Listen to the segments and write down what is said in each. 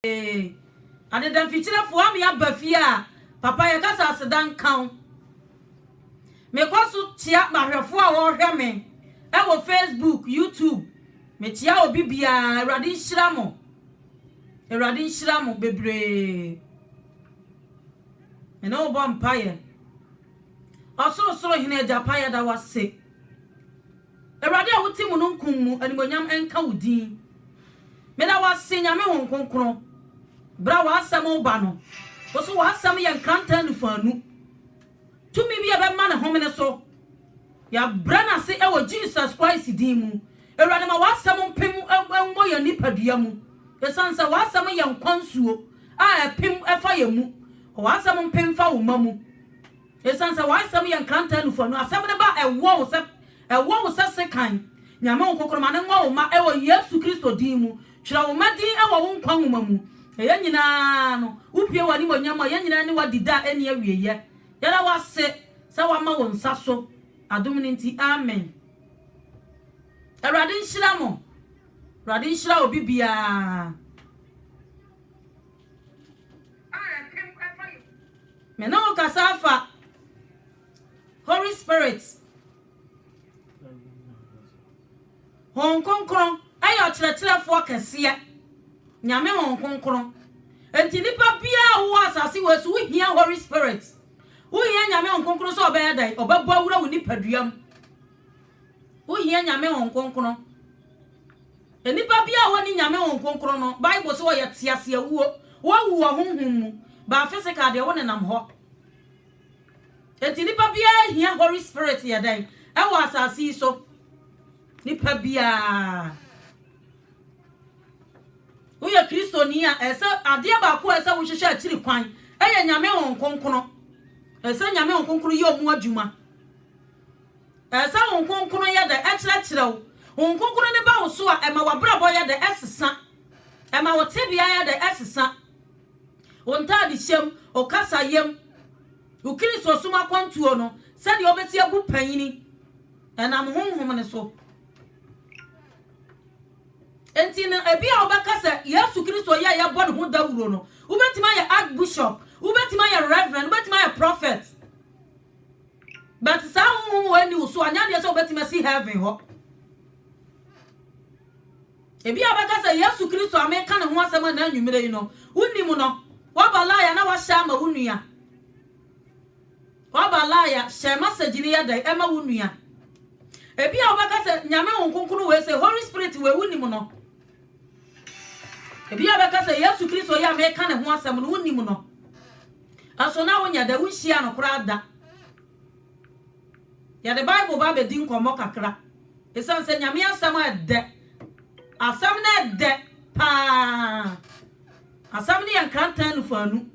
Ee, adeda mfikyirefo ama yɛaba fie a, papa yɛkasa aseda nka wo. Mekɔ so kyia m'ahwɛfo a wɔhwɛ me wɔ Facebook, YouTube. Mekyia obi biara. Awurade nhyira mo. Awurade nhyira mo bebree. Me ne wo bɔ mpaeɛ. Ɔsorosoro Hene agya pa yɛda wo ase. Awurade a wote mununkum mu animuonyam nka wo din. Meda wo ase Nyame Hon Kronkron bra w'asɛm ba no wo so w'asɛm yɛ nkrantaa nufuanu tumi bi a ɛbɛma ne homene so yɛabrɛ no ase wɔ Jesus Christ din mu Awurade ma w'asɛm mpem mmɔ yɛn nipadua mu ɛsiane sɛ w'asɛm yɛ nkwa nsuo a ɛpem ɛfa yɛn mu w'asɛm mpem fa wo ma mu Esiane sɛ w'asɛm yɛ nkrantɛ anufua no, asɛm no ba a, ɛwɔ wo sɛ, ɛwɔ wo sɛ sekan. Nyame wo nkokorom, ma no nwa wo mma ɛwɔ Yesu Kristo din mu. Twerɛ wo mma din ɛwɔ wo nkwa nwoma mu. Na yɛn nyinaa no, wo pue wɔ animuonyam mu a, yɛn nyinaa ne wo adi da a ɛnni awieɛ. Yɛda wo ase sɛ wama wo nsa so adom no nti. Amen. Awurade nhyira mo. Awurade nhyira obi biara. Me ne wo kasa afa Holy Spirit. Hon Kronkron ɛyɛ ɔkyerɛkyerɛfoɔ kɛseɛ. Nyame Hon Kronkron. Enti nipa biara wowɔ asase wɔ so wohia Holy Spirit. Wohia Nyame Hon Kronkron sɛ ɔbɛyɛ dɛn? Ɔbɛbɔ awura wo nipadua mu. Wo hia Nyame Honhom Kronkron. Nipa biara a ɔnni Nyame Honhom Kronkron no, Bible se ɔyɛ tease awuo. Wawu wɔ honhom mu, but physical deɛ wo nenam hɔ. Enti nipa biara hia Holy Spirit yɛ dɛn? Ɛwɔ asase yi so. Nipa biara. Woyɛ Kristoni a, ɛsɛ adeɛ baako a ɛsɛ wohwehwɛ akyiri kwan. Ɛyɛ Nyame Honhom Kronkron. Ɛsɛ Nyame Honhom Kronkron yɛ ɔmo adwuma. Ɛsɛ sɛ Honhom Kronkron yɛ dɛ kyerɛkyerɛ wo. Honhom Kronkron no ba wo so a, ɛma w'abrabɔ yɛ dɛ sesa. Ɛma wo tebea yɛ dɛ sesa. Wo ntadehyɛm, wo kasayɛm, wo Kristosom akwantuo no, sɛdeɛ wobɛsi abu panyini, ɛnam Honhom no so. Enti no, ebia wobɛka sɛ Yesu Kristo yɛ a yɛbɔ ne ho dawuro no, wobɛtumi ayɛ Archbishop, wobɛtumi ayɛ Reverend, wobɛtumi ayɛ Prophet. But saa honhom wei ni wo so a, nyɛ adeɛ sɛ wobɛtumi asi heaven hɔ. Ebi a bɛka sɛ Yesu Kristo a meka ne ho asɛm ɛna anwummerɛ yi no, wonim no. Waba laya na wahyɛ ama wo nua. Waba laya, hyɛ message no yɛ dɛn ɛma wo nua. Ebi a wobɛka sɛ Nyame ho nkonkono wei sɛ Holy Spirit wei wonim no. Ebi a bɛka sɛ Yesu Kristo yi a meka ne ho asɛm no wonim no. So na wonya da? Wunhyiaa no koraa da. Yɛde Bible ba abedi nkɔmmɔ kakra esiane sɛ Nyame Asɛm a ɛdɛ, Asɛm no ɛdɛ paa. Asɛm no yɛ nkrantɛ anufuanu.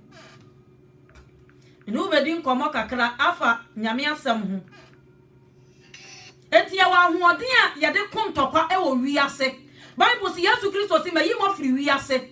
Me ne wo bedi nkɔmmɔ kakra afa Nyame Asɛm ho. Enti yɛwɔ ahoɔden a yɛde ko ntɔkwa wɔ wiase. Bible se Yesu Kristo se, Mayi mo afiri wiase.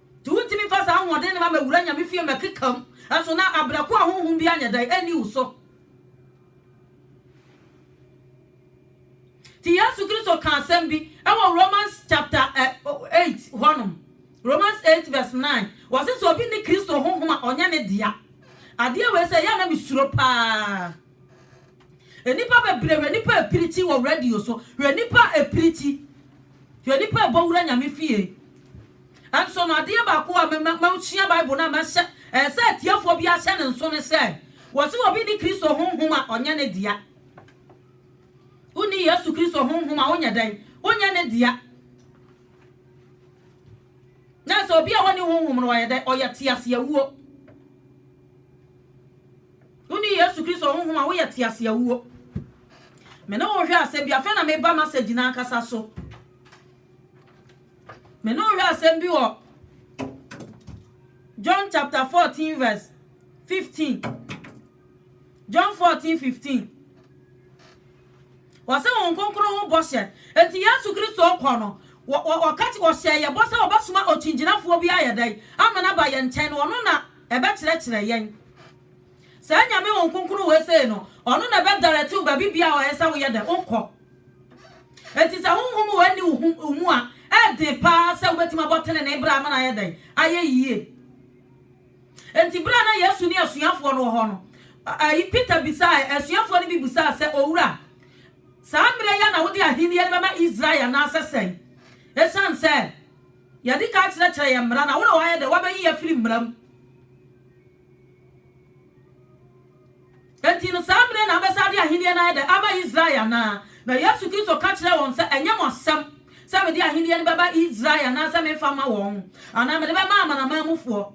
Nti wontumi mfa saa ahoɔden no ma mɛwura Nyame fie mɛkeka mu, nso na abrɛ ko a honhom biara nyɛ dɛn nni wo so. Nti Yesu Kristo kaa asɛm bi wɔ Romans chapter eh, oh, eight hɔnom, Romans eight verse nine, wɔse sɛ obi ne Kristo honhom a ɔnyɛ ne dea. Adeɛ wei sɛ yɛ a na mesuro paa. Nnipa bebree hwɛ nnipa a ɛpirikyi wɔ radio so, hwɛ nnipa a ɛpirikyi, hwɛ nnipa a ɛbɔ wura Nyame fie. Nanso no, adeɛ baako a masua Bible no a mɛhyɛ, ɛsɛ sɛ atiefoɔ biara hyɛ ne nso ne sɛ, wɔse obi nni Kristo Honhom a, ɔnyɛ ne dea. Wonni Yesu Kristo Honhom a, wonyɛ dɛn? Wonyɛ ne dea. Na sɛ obi a wɔnni Honhom no, ɔyɛ dɛn? Ɔyɛ teaseawuo. Wonni Yesu Kristo Honhom a, woyɛ teaseawuo. Me ne wo hwɛ asɛm bi, afei na meba message no ankasa so. Me ne wo hwɛ asɛm bi wɔ John chapter 14 verse 15. John 14 15. Wɔsɛ wɔn kronkron ho bɔhyɛ. Enti Yesu Kristo kɔ no, wɔka kye wɔhyɛ yɛ bɔ sɛ wɔbɛsoma okyingyinafoɔ bi ayɛ dɛn ama no aba yɛn nkyɛn no ɔno na ɛbɛkyerɛkyerɛ yɛn. Saa Nyame wɔn kronkron wei sei no, ɔno na ɛbɛdaretew baabi bia ɔyɛ sɛ woyɛ dɛn wokɔ. Enti sɛ honhom wɔ nni wo mu a, ɛyɛ den paa sɛ wubetumi abɔ trenee bra ama no ayɛ dɛn? Ayɛ yiye. Enti bere a na Yesu ne asuafoɔ no wɔ hɔ no, Peter bisaa, asuafoɔ no bi bisaa sɛ, Owura, saa mmerɛ yi ara na wode ahenni no bɛma Israel anaasɛ sɛn? Esiane sɛ yɛadi kan akyerɛkyerɛ yɛn mmara na wo na woayɛ dɛn? Woabɛyi yɛn afiri mmara mu? Enti no saa mmere na abɛsɛade ahenni no ayɛ dɛ ama Israel anaa? Na Yesu Kristo ka kyerɛɛ wɔn sɛ, Ɛnyɛ mo asɛm sɛ mede ahenni no bɛba Israel anaasɛ memfa mma wɔn, anaa mede bɛma amanaman mufoɔ,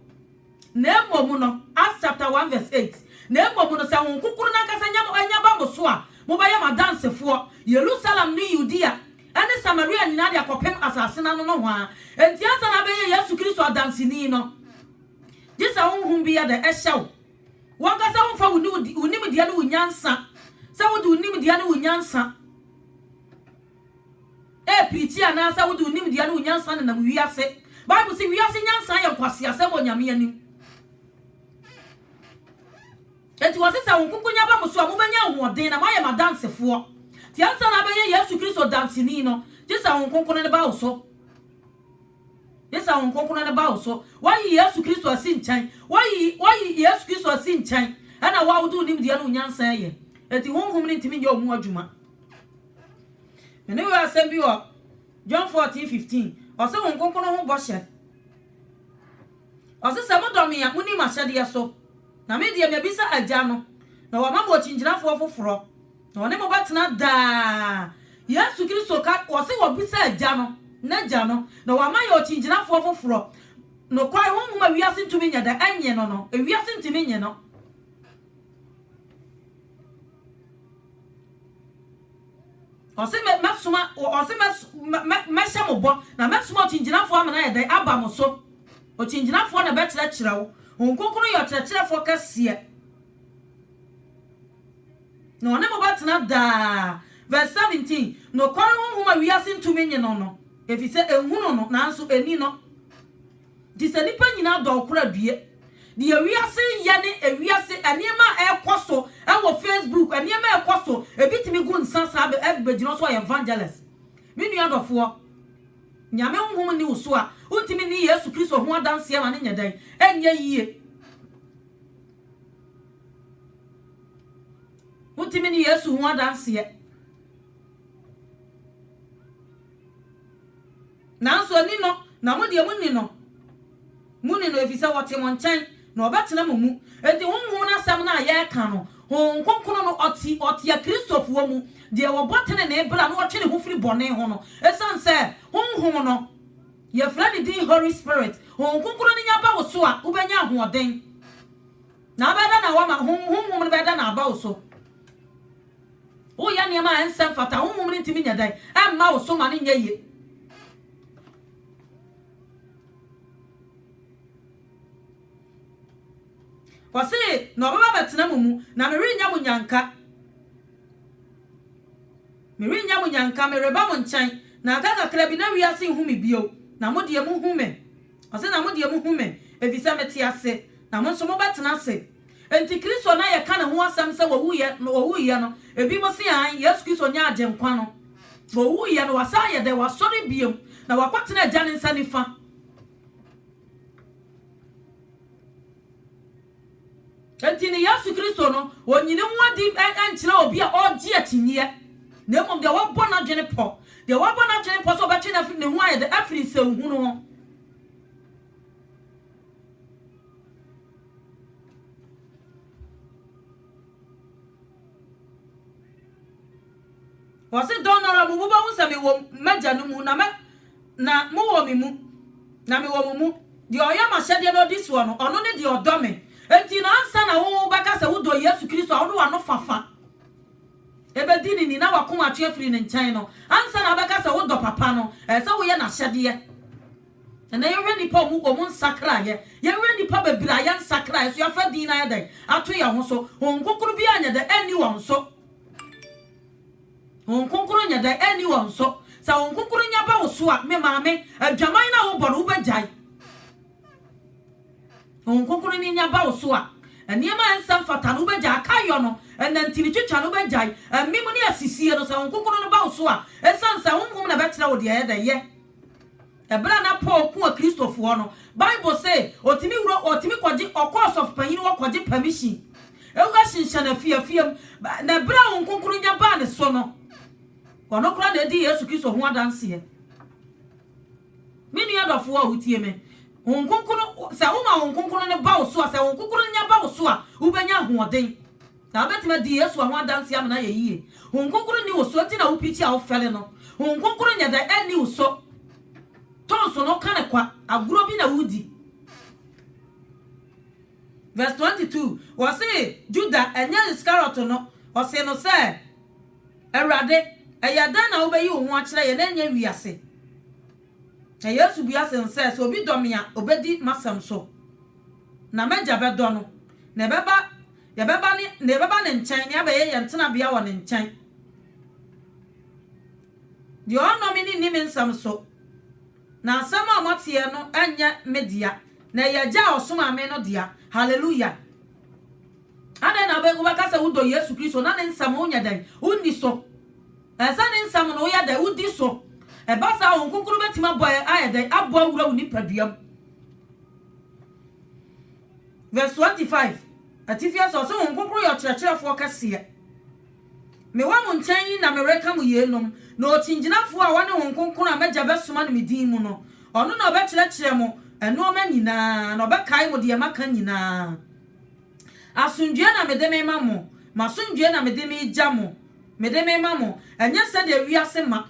na mmom no, Acts chapter one verse eight, na mmom no, sɛ Honhom Kronkron no ankasa nya mo anya ba mo so a, mobɛyɛ m'adansefoɔ, Yerusalem ne Yudea ne Samaria nyinaa de akɔpem asase no ano nohoa. Enti ansa na abɛyɛ Yesu Kristo adanseni no, Gye sɛ honhom bi yɛ dɛ hyɛ wo. W'ankasa womfa wo nimdeɛ ne wo nyansa, sɛ wode wo nimdeɛ ne wo nyansa ɛrepreachi anaasɛ wode wo nimdeɛ ne wo nyansa nenam wiase. Bible se wiase nyansa yɛ nkwaseasɛm wɔ Nyame anim. Enti wɔse sɛ wo nkonkonya ba mo so a, mobɛnya ahoɔden na moayɛ m'adansefoɔ. Nti ansa na abɛyɛ Yesu Kristo danseni no, gye sɛ Honhom Kronkron no ba wo so. Gye sɛ Honhom Kronkron no ba wo so. Woayi Yesu Kristo asi nkyɛn. Woayi, woayi Yesu Kristo asi nkyɛn. Ɛna wo a wode wo nimdeɛ ne wo nyansa reyɛ. Enti Honhom no ntumi nyɛ wo mu adwuma. Me ne wo yɛ asɛm bi wɔ John 14, 15. Ɔse Honhom Kronkron no ho bɔhyɛ. Ɔse sɛ modɔ me a, moni m'ahyɛdeɛ so. Na me deɛ mabisa Agya no, na wama me okyinkyinafoɔ foforɔ. Na ɔne mo bɛtena daa. Yesu Kristo ka, ɔse wɔbisa Agya no, N'Agya no, na wama yɛn ɔkyingyinafoɔ foforɔ, nokware Honhom a wiase ntumi nyɛ dɛ nye no no, ewiase ntumi nye no. Ɔse mɛ, mɛsoma, ɔse mɛ, mɛ, mɛhyɛ mo bɔ, na mɛsoma ɔkyingyinafoɔ ama no ayɛ dɛn? Aba mo so. Ɔkyingyinafoɔ na ɛbɛkyerɛkyerɛ wo. Honhom Kronkron no yɛ ɔkyerɛkyerɛfoɔ kɛseɛ. Na ɔne mo bɛtena daa. Verse 17, Nokware honhom a wiase ntumi nnye no no, efisɛ enhunu no, nanso enni no. Enti sɛ nnipa nyinaa dɔ ɔkoro a due. Deɛ wiase yɛ ne ewiase nneɛma a ɛrekɔ so wɔ Facebook, nneɛma a ɛrekɔ so, ebi tumi gu nsa saa bɛ ɛb bɛgyina hɔ sɛ ɔyɛ evangelist. Me nua dɔfoɔ, Nyame honhom nni wo so a, wontumi nni Yesu Kristo ho adanseɛ ma no nyɛ dɛn? Ɛnyɛ yie. Wotumi ne Yesu ho adanseɛ. Nanso ani no, na mo deɛ monni no. Monni no ɛfiri sɛ ɔte mo nkyɛn, na ɔbɛtena mo mu. Enti Honhom no asɛm no a yɛreka no, Honhom Kronkron no ɔte ɔte Akristofoɔ mu, deɛ ɔbɔ tenenee bra na ɔtwe ne ho firi bɔne ho no, ɛsiane sɛ Honhom no, Yɛfrɛ ne din Holy Spirit. Honhom Kronkron no nya ba wo so a, wobɛnya ahoɔden. Na abɛyɛ dɛ na wama ho, honhom no bɛyɛ dɛ na aba wo so. Woyɛ nneɛma a ɛnsɛ mfata, honhom no ntumi nyɛ dɛn ɛmma wo so ma no nyɛ yie. Ɔse, na ɔbɛba abɛtena mo mu, na merenyɛ mo nyanka. Merennya mo nnyanka, mereba mo nkyɛn, na aka kakra bi na wiase nhu me bio, na mo deɛ mohu me. Ɔse, na mo deɛ mohu me, ɛfiri sɛ mete ase, na mo nso mobɛtena ase. Enti Kristo no a yɛka ne ho asɛm sɛ ɔwuiɛ no, ebinom se aane, Yesu Kristo nyɛ Agyenkwa no. Ɔwuiɛ no, wasan ayɛ dɛn? Wasɔre bio, na wakɔtena Agya no nsa nifa. Enti no Yesu Kristo no, onnyi ne ho adi nkyerɛ obi a ɔregye akyinnyeɛ, na mmom deɛ wabɔ n'adwene pɔ, deɛ wabɔ n'adwene pɔ sɛ ɔbɛtwe no afiri ne ho ayɛ dɛ, afiri nsɛnhunu ho. Ɔse, Dɔn no ara mu mobɛhu sɛ mewɔ m'Agya no mu, na mɛ, na mowɔ me mu, na mewɔ mo mu. Deɛ ɔyɛ m'ahyɛdeɛ na ɔdi soɔ no, ɔno ne deɛ ɔdɔ me. Enti no ansa na wo wobɛka sɛ wodɔ Yesu Kristo a, wode w'ano fafa bɛdi ne ni na w'akoma atwe afiri ne nkyɛn no, ansa na wobɛka sɛ wodɔ Papa no, ɛɛ sɛ woyɛ n'ahyɛdeɛ. Ɛnɛ yɛhwɛ nnipa ɔmo ɔmo nsakraeɛ, yɛhwɛ nnipa bebree a yɛnsakraeɛ so, yɛafa din no ayɛ dɛn? Ato yɛn ho so. Honhom Kronkron biara nyɛ dɛn? Ɛnni wɔn so. Honhom Kronkron nyɛ dɛn? Enni hɔ nso. Sɛ Honhom Kronkron nya ba wo so a, me maame, adwaman no a wobɔ no, wobɛgyae. Honhom Kronkron no nya ba wo so a, nneɛma a ɛnsɛ mfata no, wobɛgyae. Akayɔ no, nnantin twitwa no, wobɛgyae. Amim ne asisie no, sɛ Honhom Kronkron no ba wo so a, esiane sɛ Honhom na ɛbɛkyerɛ wo deɛ ɛyɛ dɛ, yɛ. Bere a na Paul ko wɔ Kristofo hɔ no, Bible se otumi wura hɔ, otumi kɔgye, ɔkɔ ɔsɔfopanyin hɔ kɔgye pɛmihyin. Ehua hyenhyɛn afiafi mu, na bere a honhom kronkron nya baa ne so no, ɔno koraa na edii Yesu Kristo ho adanse. Me nua dɔfo a wutie me, honhom kronkron, sɛ woma honhom kronkron no ba wo so a, sɛ honhom kronkron no nya ba wo so a, wubenya ahoɔden. Na wobɛtumi adi Yesu ho adanseɛ ama no ayɛ yie. Honhom Kronkron nni wo so nti na wopirikyi a wofɛre no. Honhom Kronkron nyɛ dɛn ɛnni wo so. Tonso no ka no kwa, agorɔ bi na woredi. Verse 22, wɔse Juda, ɛnyɛ Iskariot no, ɔsee no sɛ, Awurade, ɛyɛ dɛn na wobɛyi wo ho akyerɛ yɛn na ɛnyɛ wiase? Na Yesu bua se no sɛ, Sɛ obi dɔ me a, ɔbɛdi m'asɛm so. Na m'Agya bɛdɔ no, na ɛbɛba Yɛbɛba ne, na yɛbɛba Ne nkyɛn, na yɛabɛyɛ yɛn tenabea wɔ Ne nkyɛn. Deɛ ɔnnɔ me no nni me nsɛm so, na asɛm a moateɛ no nyɛ me dea, na ɛyɛ Agya a ɔsomaa me no dea. Hallelujah! Adɛn na wobɛ, wobɛka sɛ wodɔ Yesu Kristo na Ne nsɛm wonyɛ dɛn? Wonni so. Ɛsɛ sɛ Ne nsɛm no woyɛ dɛn? Wodi so. Ɛba saa a, Honhom Kronkron bɛtumi abɔ, ayɛ dɛn? Abɔ awura wo nipadua mu. Verse twenty five, Atifi ase, Ɔse, Honhom Kronkron yɛ Ɔkyerɛkyerɛfoɔ kɛseɛ. Mewɔ mo nkyɛn yi na mereka mo yeinom, na Okyingyinafoɔ a ɔne Honhom Kronkron a m'Agya bɛsoma no me din mu no, ɔno na ɔbɛkyerɛkyerɛ mo nnoɔma nyina ara, na ɔbɛkae mo deɛ maka nyina ara. Asomdwoeɛ na mede mema mo, m'asomdwoeɛ na mede megya mo, mede mema mo, ɛnyɛ sɛdeɛ wiase ma,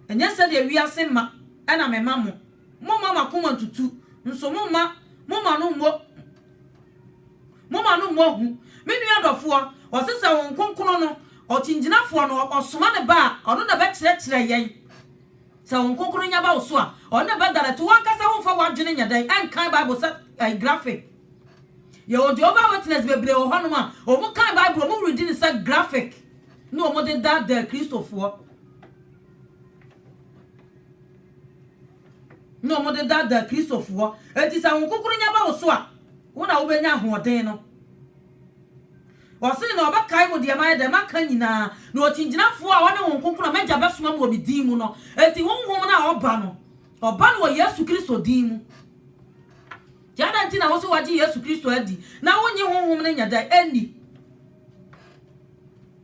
ɛnyɛ sɛdeɛ wiase ma na mema mo. Momma mo akoma ntutu, nso momma mo mma no mmɔ mo mma no mmɔ hu. Me nua dɔfoɔ, wɔse sɛ Honhom Kronkron no, Ɔkyingyinafoɔ no, ɔsoma ne Ba a, ɔno na ɛbɛkyerɛkyerɛ yɛn. Sɛ Honhom Kronkron no nya ba wo so a, ɔno na ɛbɛdane. To w'ankasa ho mfa w'adwene nyɛ dɛn nkan Bible sɛ ɛyɛ graphic. Yɛwɔ Jehovah Witness bebree wɔ hɔnom a, wɔkan Bible a, wɔredi no sɛ graphic na wɔde daadaa Kristofoɔ. na wɔde daadaa Kristofoɔ. Enti sɛ Honhom Kronkron nya ba wo so a, wo na wobɛnya ahoɔden no. Ɔse na ɔbɛkae mo deɛ mayɛ dɛn maka nyinaa, na ɔkyingyinafoɔ a ɔne Honhom Kronkron a m'Agya bɛsoma mo wɔ me din mu no, enti Honhom no a ɔba no, ɔba no wɔ Yesu Kristo din mu. Nti adɛn nti na wose woagye Yesu Kristo adi na wonnye Honhom no nyɛ dɛn nni?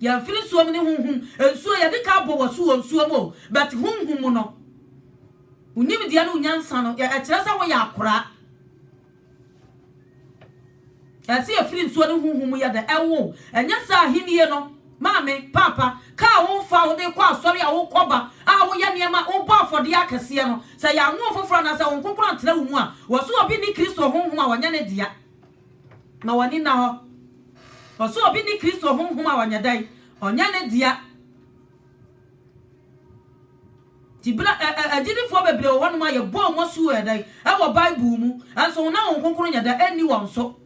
Yɛmfiri nsuo mu ne honhom nsuo yɛde ka abɔ wɔ so wɔ nsuo mu o but honhom mu no wo nimdeɛ ne wo nyansa no ɛkyerɛ sɛ woyɛ akoraa ɛsɛ yɛfiri nsuo ne honhom mu yɛ dɛ ɛwo ɛnyɛ sɛ ahennie no maame paapa kaa wo mfa wode kɔ asɔre a wokɔba a woyɛ nneɛma wobɔ afɔdeɛ akɛseɛ no sɛ yɛanwo foforɔ anaasɛ wo nkonkoro antena wo mu a wɔ so obi ne kristo honhom a wɔnyɛ ne dea Ma w'ani nna hɔ. Wɔ sɛ obi ne Kristo honhom a ɔnyɛ dɛn? Ɔnyɛ ne dea. Nti bere a ɛ, ɛ, agyidifoɔ bebree wɔ hɔnom a yɛbɔɔ wɔn asu wɔ yɛ dɛn? Ɛwɔ Bible mu. Nanso ho na Honhom Kronkron nyɛ dɛn? Ɛnni wɔn so.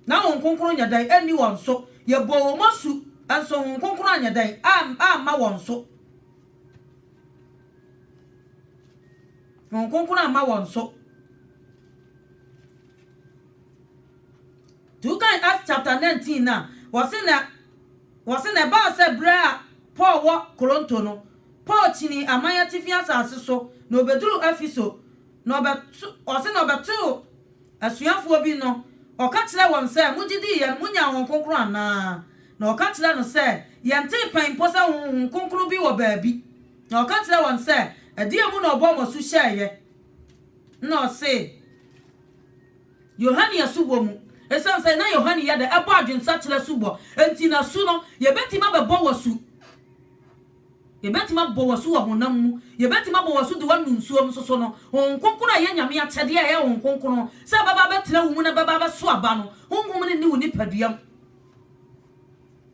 Na Honhom Kronkron nyɛ dɛn? Ɛnni wɔn so. Yɛbɔɔ wɔn asu, nso Honhom Kronkron anyɛ dɛn? Am, amma wɔn so. Honhom Kronkron amma wɔn so. Nti wokan Acts chapter nineteen no a, wɔse na wɔse na ɛbaa sɛ berɛ a Paul wɔ Koronto no, Paul kyinii aman atifi asase so na ɔbɛduruu Efeso na ɔbɛ wɔse na ɔbɛtoo asuafoɔ bi no, ɔka kyerɛɛ wɔn sɛ, Mogye dii yɛn, monyaa Honhom Kronkron anaa? Na wɔka kyerɛɛ no sɛ, Yɛntee pɛn mpo sɛ Honhom Kronkron bi wɔ baabi. Na ɔka kyerɛɛ wɔn sɛ, Ɛdeɛn mu na ɔbɔɔ mo asu hyɛeɛ? Nna ɔse Yohane asubɔ mu. Esiane sɛ na Yohane yɛ dɛ bɔ adwensakyera asubɔ nti, n'asu no, yebetumi abɛbɔ w'asu. Yebetumi abɔ w'asu wɔ honam mu. Yebetumi abɔ w'asu de woanu nsuom nso so no. Honhom Kronkron a ɛyɛ Nyame akyɛde a ɛyɛ Honhom Kronkron sɛ ɛbɛba abɛtena wo mu na ɛbɛba abɛso aba no, Honhom no nni wo nipaduam.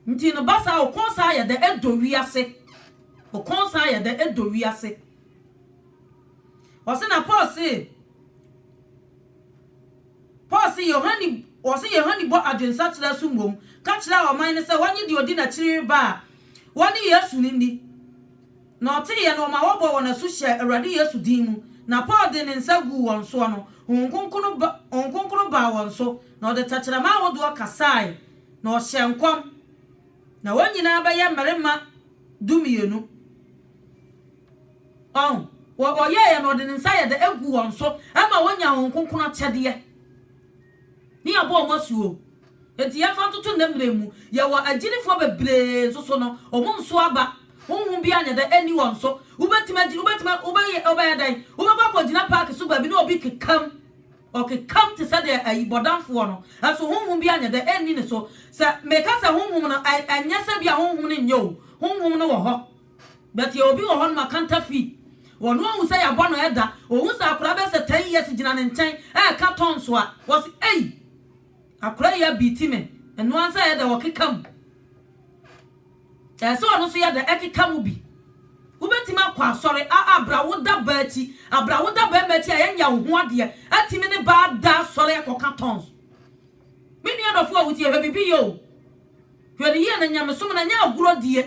Nti no, ba saa a, wo kɔn san yɛ dɛ, ɛdɔ wiase. Wo kɔn san yɛ dɛ, ɛdɔ wiase. Ɔse na Paul se Paul se Yohane ɔse Yohane bɔ adwensakyera so mmom ka kyerɛɛ ɔman no sɛ wɔnye deɛ ɔdi n'akyiri reba a wɔne Yesu no nni. Na ɔteeɛ no ɔma wɔbɔɔ wɔn asu hyɛɛ Awurade Yesu din mu. Na Paul de ne nsa guu wɔn soɔ no, Honhom Kronkron ba Honhom Kronkron baa wɔn so, na ɔde tɛkyerɛma ahodoɔ kasaae, na ɔhyɛɛ nkɔm. Na wɔn nyinaa bɛyɛ mmarima dumienu. Ɔn, wɔ ɔyɛeɛ no ɔde ne nsa yɛ dɛ gu wɔn so ma wɔnya wɔn kronkron akyɛdeɛ. Ne yɛabɔ wɔn asu o. Enti yɛmfa ntoto nnɛ mmerɛ mu, yɛwɔ agyinifoɔ bebree nso so no, wɔn nso aba, honhom biara nyɛ dɛ nni wɔn so. Wobɛtumi agyi, wobɛtumi, wobɛyɛ, wobɛyɛ dɛn? Wobɛkɔ akɔgyina paake so baabi na obi kekam, ɔkekam te sɛ deɛ ayi bɔdamfoɔ no, nso honhom biara nyɛ dɛ nni ne so. Sɛ meka sɛ honhom no, ɛ, ɛnyɛ sɛ bi a honhom no nyɛ o, honhom no wɔ hɔ. But yɛwɔ obi wɔ hɔ nom a kanta fi ɔno ahu sɛ yɛabɔ no ɛda ɔhu sɛ akora bɛyɛ sɛ ten years gyina ne nkyɛn ɛɛka tɔn so a ɔse ei akora yi abeati me ɛnoa nsɛ ɛyɛ dɛ ɔkeka mu ɛsɛ ɔno so yɛ dɛ ɛkeka mu bi wobɛtumi akɔ asɔre a abra wo da baa akyi abra wo da bɛɛma akyi a yɛnya wo ho adeɛ atumi ne baa da asɔre ɛkɔka tɔn so me nua dɔfo a wotie hwɛ bibi yɛ o hwɛ ne yie na nyamesom na nyɛ agorɔ die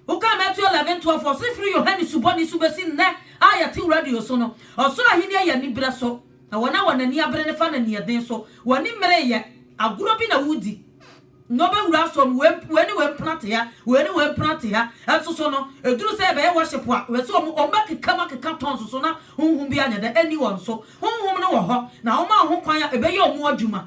Wokaa Matthew eleven twelve a ɔse firi Yohane Subɔni so bɛsi nnɛ a yɛte radio so no, ɔsoro ahenni yɛ anibereso, na wɔn a wɔn ani abere no fa no aniɛden so. W'ani mmereyɛ, agorɔ bi na woredi, na wobɛwura asɔre mu, wei ne wei mpena te ha, wei ne wei mpena te ha. Nso so no, ɛduru sɛ yɛbɛyɛ worship a, wɔ sɛ wɔn bɛkeka mu akeka tongues so na honhom bi anyɛ dɛ anni wɔn so. Honhom no wɔ hɔ, na wɔma wɔn ho kwan a ɛbɛyɛ wɔn adwuma.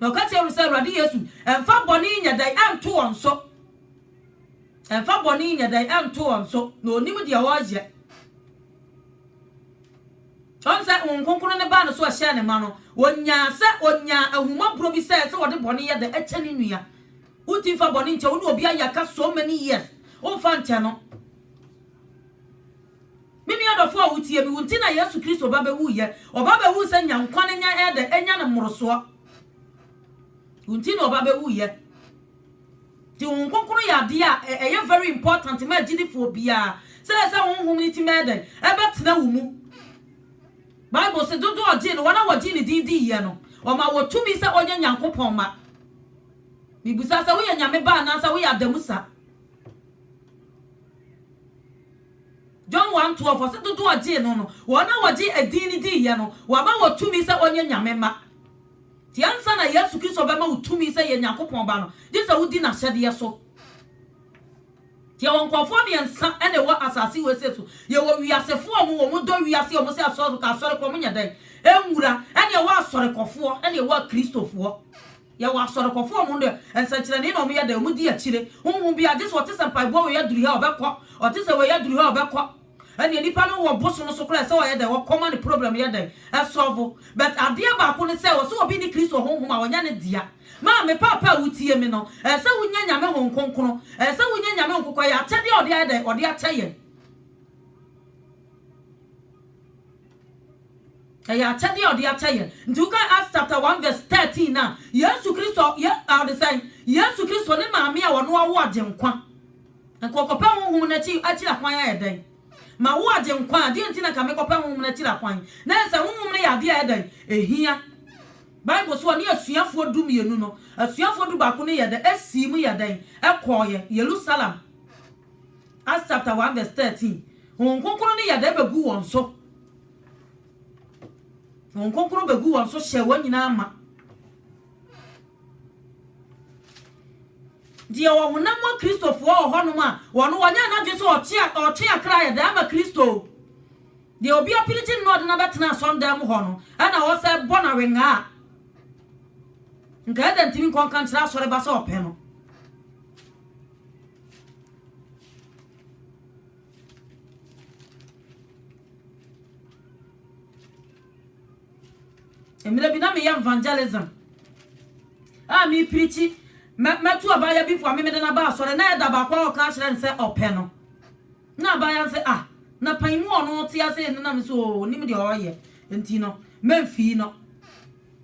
Na ɔka kyerɛɛ no sɛ, Awurade Yesu, mfa bɔne nyɛ dan nto wɔn so. Mfa bɔne nyɛ dan nto wɔn so, na onim deɛ ɔreyɛ. Ɔn sɛ Honhom Kronkron no baa ne so ɛhyɛɛ ne ma no, ɔnyaa sɛ ɔnyaa ahumɔborɔ bi sɛ sɛ ɔde bɔne yɛ dan kyɛ ne nua. Wonti mfa bɔne nkyɛ wo ne obi ayɛ aka so many years, womfa nkyɛ no. Me nua dɔfoɔ a wotie me, wo nti na Yesu Kristo ba bɛwuiɛ. Ɔba bɛwu sɛ nya nkwa no nya ɛɛdɛ ɛnya no mmorosoɔ. Wo nti na ɔba bɛwuiɛ. Nti Honhom Kronkron yɛ adeɛ a ɛyɛ very important ma agyidifoɔ biara sɛ ɛyɛ sɛ Honhom no tumi bɛyɛ dɛn? Ɛbɛtena wo mu. Bible se dodoɔ a ɔgyee no, wɔn a wɔgyee ne din diiɛ no, ɔmaa wɔ tumi sɛ wɔnyɛ Nyankopɔn mma. Mebusa sɛ woyɛ Nyame ba anaasɛ woyɛ adamusa? John one twelve, ɔse dodoɔ a ɔgyee no no, wɔn a wɔgye edin no diiɛ no, wama wɔ tumi sɛ wɔnyɛ Nyame mma. Nti ansa na Yesu Kristo bɛma wo tumi sɛ yɛ Nyankopɔn ba no, gye sɛ wodi n'ahyɛdeɛ so. Nti yɛwɔ nkorɔfoɔ mmiɛnsa na ɛwɔ asase wesee so, yɛwɔ wiasefoɔ a wɔn dɔ wiase, wɔn se asɔre, asɔrekɔ, wɔn nyɛ dɛn? Ɛnwura, ɛne ɛwɔ asɔrekɔfoɔ, ɛne ɛwɔ akristofoɔ. Yɛwɔ asɔrekɔfo a wɔn de, nsɛnkyerɛnee na wɔyɛ dɛ, wɔdi akyire. Honhom biara, gye sɛ ɔte sɛ mpaeboa wei aduru ha a, ɔbɛkɔ, ɔte sɛ wei aduru ha a, ɔbɛkɔ. Ɛnneɛ nipa no wɔ bo so no so koraa ɛsɛ ɔyɛ dɛn? Ɔkɔ ma ne problem no yɛ dɛn? Ɛsɔɔvo. But adeɛ baako ne sɛ, ɔsɛ obi ne Kristo Honhom a, ɔnyɛ ne dea. Maa, me paapa a wotie me no, ɛsɛ sɛ wonya Nyame Honhom Kronkron. Ɛsɛ sɛ wonya Nyame Honhom Kronkron. Ɛyɛ akyɛdeɛ a ɔde ayɛ dɛn? Ɔde akyɛ yɛn. Ɛyɛ akyɛdeɛ a ɔde akyɛ yɛn. Nti woka Acts chapter 1 verse 13 no a, Yesu Kristo, ye, a, ɔde sɛn? Yesu Kristo ne maame a ɔno awo Agyenkwa. Nka ɔkɔpɛ Honhom no akyi, akyiri akwan ayɛ dɛn? Ma wo Agyenkwa a, deɛ nti na nka mekɔpɛ Honhom no akyiri akwan? Na yɛ sɛ Honhom no yɛ adeɛ a ɛyɛ dɛn? Ɛhia. Bible so ɔne asuafoɔ du mmienu no, asuafoɔ du baako no yɛ dɛn? Ɛsiim yɛ dɛn? Ɛkɔɔeɛ. Yerusalem. Acts chapter one verse thirteen. Honhom Kronkron no yɛ dɛ begu wɔn so. Honhom Kronkron begu wɔn so hyɛ wɔn nyinaa ma. Deɛ ɔwɔ honam mu Kristofoɔ wɔ hɔnom a, wɔn wɔnyɛ n'adwene sɛ ɔtwe ɔtwe akra yɛ dɛ ama Kristo. Deɛ obi apirikyi no na ɔde no abɛtena asɔndan mu hɔ no, ɛna ɔsɛ bɔ no awenga a. Nka ɛdɛ ntumi nkɔ nka nkyerɛ asɔreba sɛ ɔpɛ no. mmerɛ bi na meyɛ evangelism a mepirikyi mɛto abaayɛ bi fo a memede no aba asɔre na ɛda baako a ɔka kyerɛ no sɛ ɔpɛ no na abaayɛ no sɛ ah na pan mu ɔno te ase nenam so ɔnim deɛ ɔyɛ nti no mɛmfii no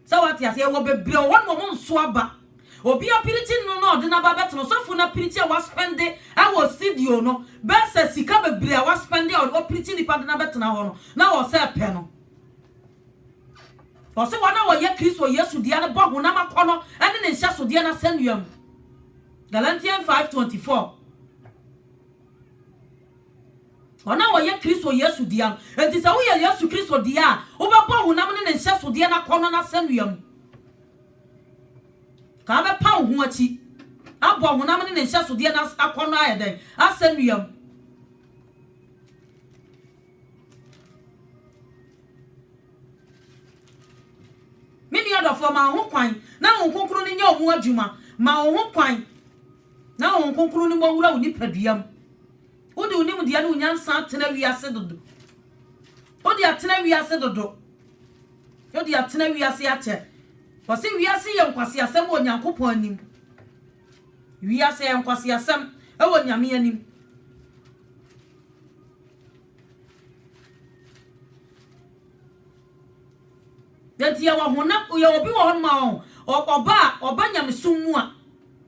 Sɛ wate aseɛ, wɔ bebree wɔ hɔ nom a wɔn nso aba. Obi apirikyi nnuro no na ɔde no aba abɛtena ɔsɔfo no apirikyi a waspɛnde wɔ studio no bɛyɛ sɛ sika bebree a waspɛnde a wapirikyi nnipa de no abɛtena hɔ no na ɔsɛ pɛ no. Ɔse wɔn a wɔyɛ Kristo Yesu dea no bɔ honam akɔnnɔ ne ne nhyɛsodeɛ no asɛnnua mu. Galatians 5:24. Wɔn a wɔyɛ Kristo Yesu dea no. Enti sɛ woyɛ Yesu Kristo dea a, wobɛbɔ honam ne ne nhyɛsodeɛ no akɔnnɔ no asɛnnua mu. Ka wobɛpa wo ho akyi abɔ honam ne ne nhyɛsodeɛ no akɔnnɔ ayɛ dɛn? Asɛnnua mu. Me nua dɔfoɔ, ma wo ho kwan na Honhom Kronkron no nyɛ ɔmu adwuma. Ma wo ho kwan Na Honhom Kronkron no mmɔwura wo nipadua mu. Wode wo nimdeɛ ne wo nyansa atena wiase dodo. Wode atena wiase dodo. Wode atena wiase akyɛ. Wɔse wiase yɛ nkwaseasɛm wɔ Nyankopɔn anim. Wiase yɛ nkwaseasɛm wɔ Nyame anim. Enti yɛwɔ honam, yɛwɔ obi wɔ hɔ nom a ɔba a, ɔba nyamesom mu a,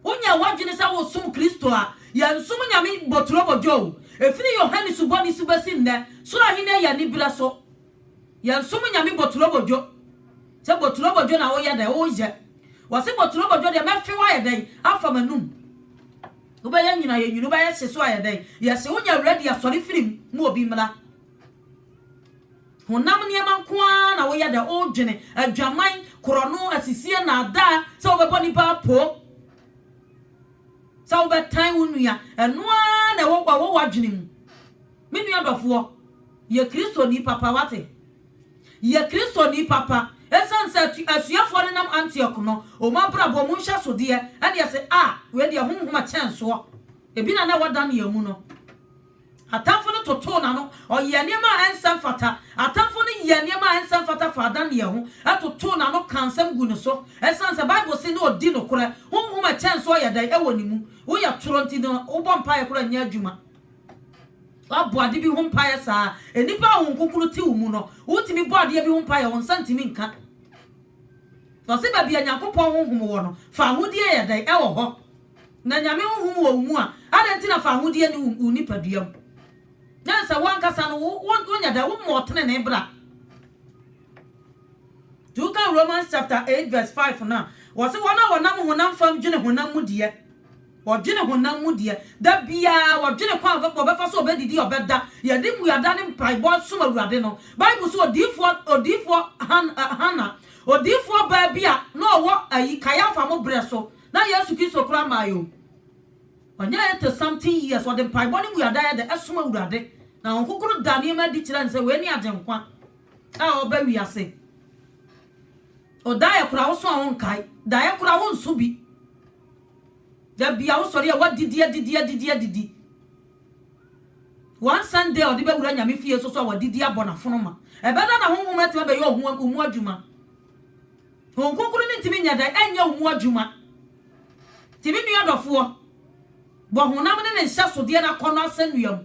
Wonya w'adwene sɛ wosom Kristo a, yɛnsom nyame boturobodwo o. Ɛfiri Yohane Subɔni so bɛsi nnɛ, Soro Ahennie yɛ aniberɛ so. Yɛnsom nyame boturobodwo. Sɛ boturobodwo na woyɛ dɛn? Woyɛ. Wɔse boturobodwo deɛ, mɛfe wo ayɛ dɛn? Afa m'anum. Wobɛyɛ nwunu ayɛ nwunu, wobɛyɛ hye so ayɛ dɛn? Yɛse wonya awuradi asɔre firi mu, ma obi mmra. Honam nneɛma nko ara na woyɛ dɛ, wodwene adwaman, korɔno, asisi, nnaadaa, sɛ wobɛbɔ nnipa poo, sɛ wobɛtan wo nua. Ɛno ara na ɛwɔ ɛwɔ w'adwene mu. Me nua dɔfoɔ, yɛ Kristoni papa, wate? Yɛ Kristoni papa. Ɛsiane sɛ atu, asuafoɔ no nam Antiok no, wɔn abrabɔ mu nhyɛsodeɛ, ɛne ɛse, a, wei deɛ ho nhoma kyɛn soɔ. Ebi na na ɛwɔ Daniel mu no. Atamfo no totoo n'ano, ɔyɛɛ nneɛma a ɛnsɛ mfata. Atamfo no yɛɛ nneɛma a ɛnsɛ mfata faa Daniel ho, totoo n'ano kaa nsɛm guu ne so. Esiane sɛ Bible se na odi nokorɛ, honhom a ɛkyɛn so yɛ dɛn wɔ ne mu? Woyɛ toro nti na wobɔ mpaeɛ koraa nyɛ adwuma. Woabɔ ade bi ho mpaeɛ saa a, nnipa a honhom kronkron te wo mu no, wotumi bɔ adeɛ bi ho mpaeɛ a wo nsa ntumi nka. Wɔse baabi a Nyankopɔn honhom wɔ no, fawohodie yɛ dɛn wɔ hɔ? Na Nyame honhom wɔ wo mu a, adɛn nti na fawohodie nni wo wo nipadua mu? Gye sɛ wo ankasa no wo wo wonyɛ dɛn? Wommɔ ɔtenenee bra. Nti wokan Romans chapter eight verse five no a, wɔse wɔn a wɔnam honam fam dwene honam mu deɛ, wɔdwene honam mu deɛ, da biara wɔdwene kwan a wɔbɛ wɔbɛfa so, wɔbɛdidi, wɔbɛda, yɛde mmuada ne mpaebɔ som Awurade no. Bible se odiyifoɔ odiyifoɔ Han Hannah, odiyifoɔ baa bi a na ɔwɔ ayi Kaiafa mo berɛ so, Na Yesu Kristo koraa maa yɛn o. Ɔnyɛ eighty something years, ɔde mpaebɔ ne mmuada a yɛda ɛsom Awurade, na Honhom Kronkron da nneɛma adi kyerɛ no sɛ wei ne Agyenkwa a ɔreba wiase. O daeɛ koraa woso a wonkae, daeɛ koraa wonso bi. Da bia wosɔre a woadidi adidi adidi adidi. One Sunday ɔde bɛwura Nyame fie nso so a wadidi abɔ n'afono ma. Ɛbɛda na Honhom atumi abɛyɛ ɔho mu adwuma. Honhom Kronkron no ntumi nyɛ dɛn nyɛ wo mu adwuma. Nti me nua dɔfoɔ, bɔ honam ne ne nhyɛsodeɛ no akɔnnɔ asɛnnua mu.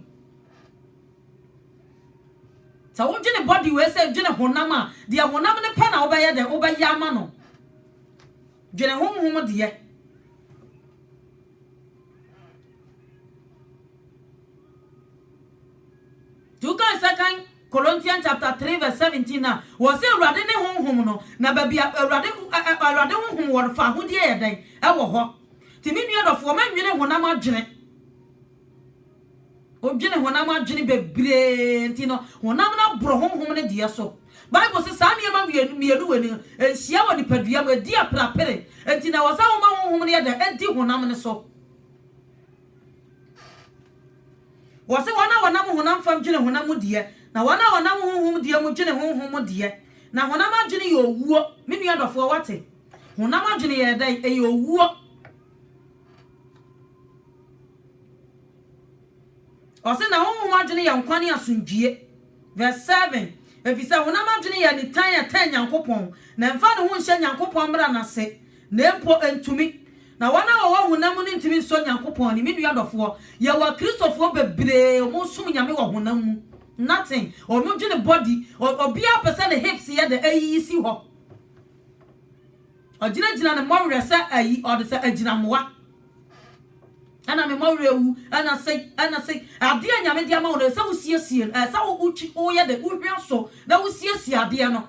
Sɛ wodwene bɔde wei sɛ dwene honam a, deɛ honam no pɛ na wobɛyɛ dɛn wobɛyɛ ama no. Dwene honhom deɛ. Nti wokae sɛ kan Colossians chapter three verse seventeen a wɔsɛ Awurade ne honhom no, na baabi a Awurade Awurade honhom wɔ no fa ahodeɛ yɛ dɛn ɛwɔ hɔ. Ti me nua dɔfoɔ ma nwene honam adwene. Odwene honam adwene bebree nti no honam no aboro honhom no deɛ so. Bible sɛ saa nneɛma mmienu wɔ ni nhyia wɔ nipadua mu ɛdi aprapere nti na wɔsɛ woma honhom no yɛ dɛn ɛdi honam no so. Wɔse wɔn a wɔnam honam fam dwene honam mu deɛ, na wɔn a wɔnam honhom deɛ mu dwene honhom mu deɛ. Na honam adwene yɛ owuo. Me nua dɔfoɔ, woate? Honam adwene yɛ dɛn? Ɛyɛ owuo. Ɔse, na honhom adwene yɛ nkwa ne asomdwie. Verse 7, Efisɛ honam adwene yɛ nitan a ɛtan Nyankopɔn, na ɛmfa ne ho nhyɛ Nyankopɔn mmara no ase. Na mpo entumi. Na wɔn a wɔwɔ honam mu no ntumi nsɔ Nyankopɔn ani. Me nua dɔfoɔ, yɛwɔ Akristofoɔ bebree a wɔn som Nyame wɔ honam mu. Nothing. Wɔn dwene body. Ɔ, obiara pɛ sɛ ne hips yɛ dɛ, ayiyi si hɔ. Ɔgyinagyina ne mmɔwerɛ sɛ ayi, ɔde sɛ agyinamoa. Ɛna me mmɔwerɛ awu, ɛna sei, ɛna sei. Adeɛ a Nyame de ama wo no, ɛsɛ sɛ wosiesie no. Ɛsɛ sɛ wo, wo, woyɛ dɛ, wohwia so, na wosiesie adeɛ no.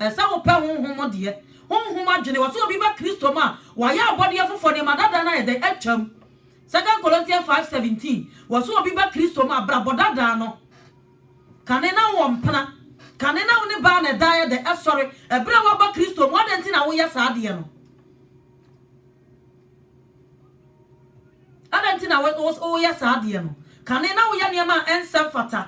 Ɛsɛ wopɛ honhom mu deɛ, honhom adwene. Wɔse obi ba Kristo mu a, wayɛ abɔdeɛ foforɔ, nneɛma dadaa no ayɛ dɛn? Atwam. Second Corinthians 5:17, wɔse obi ba Kristo mu a, brabɔ dadaa no, kane na wowɔ mpena, kane na wo ne baa na ɛda ayɛ dɛn? Ɛsɔre. Ɛberɛ a woaba Kristo mu, adɛn nti na woyɛ saa adeɛ no? Adɛn nti na woyɛ saa adeɛ no? Kane na woyɛ nneɛma a ɛnsɛ mfata.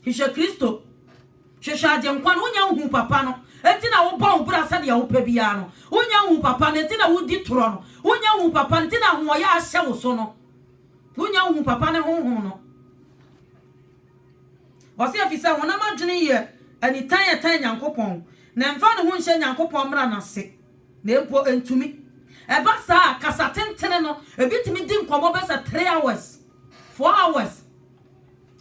Hwehwɛ Kristo. Hwehwɛ Agyenkwa no. Wonya nhu papa no, enti na wobɔ wo bra sɛdeɛ wopɛ biara no. Wonya nhu papa no, enti na wodi torɔ no. Wonya nhu papa no, enti na ahoɔyɛ ahyɛ wo so no. Wonya nhu papa ne Honhom no. Ɔse ɛfiri sɛ honam adwene yɛ anitan a ɛtan Nyankopɔn, na ɛmfa ne ho nhyɛ Nyankopɔn mmara no ase. Na mpo entumi. Ɛba saa a, kasa tentene no, ebi tumi di nkɔmmɔ bɛsɛ three hours, four hours,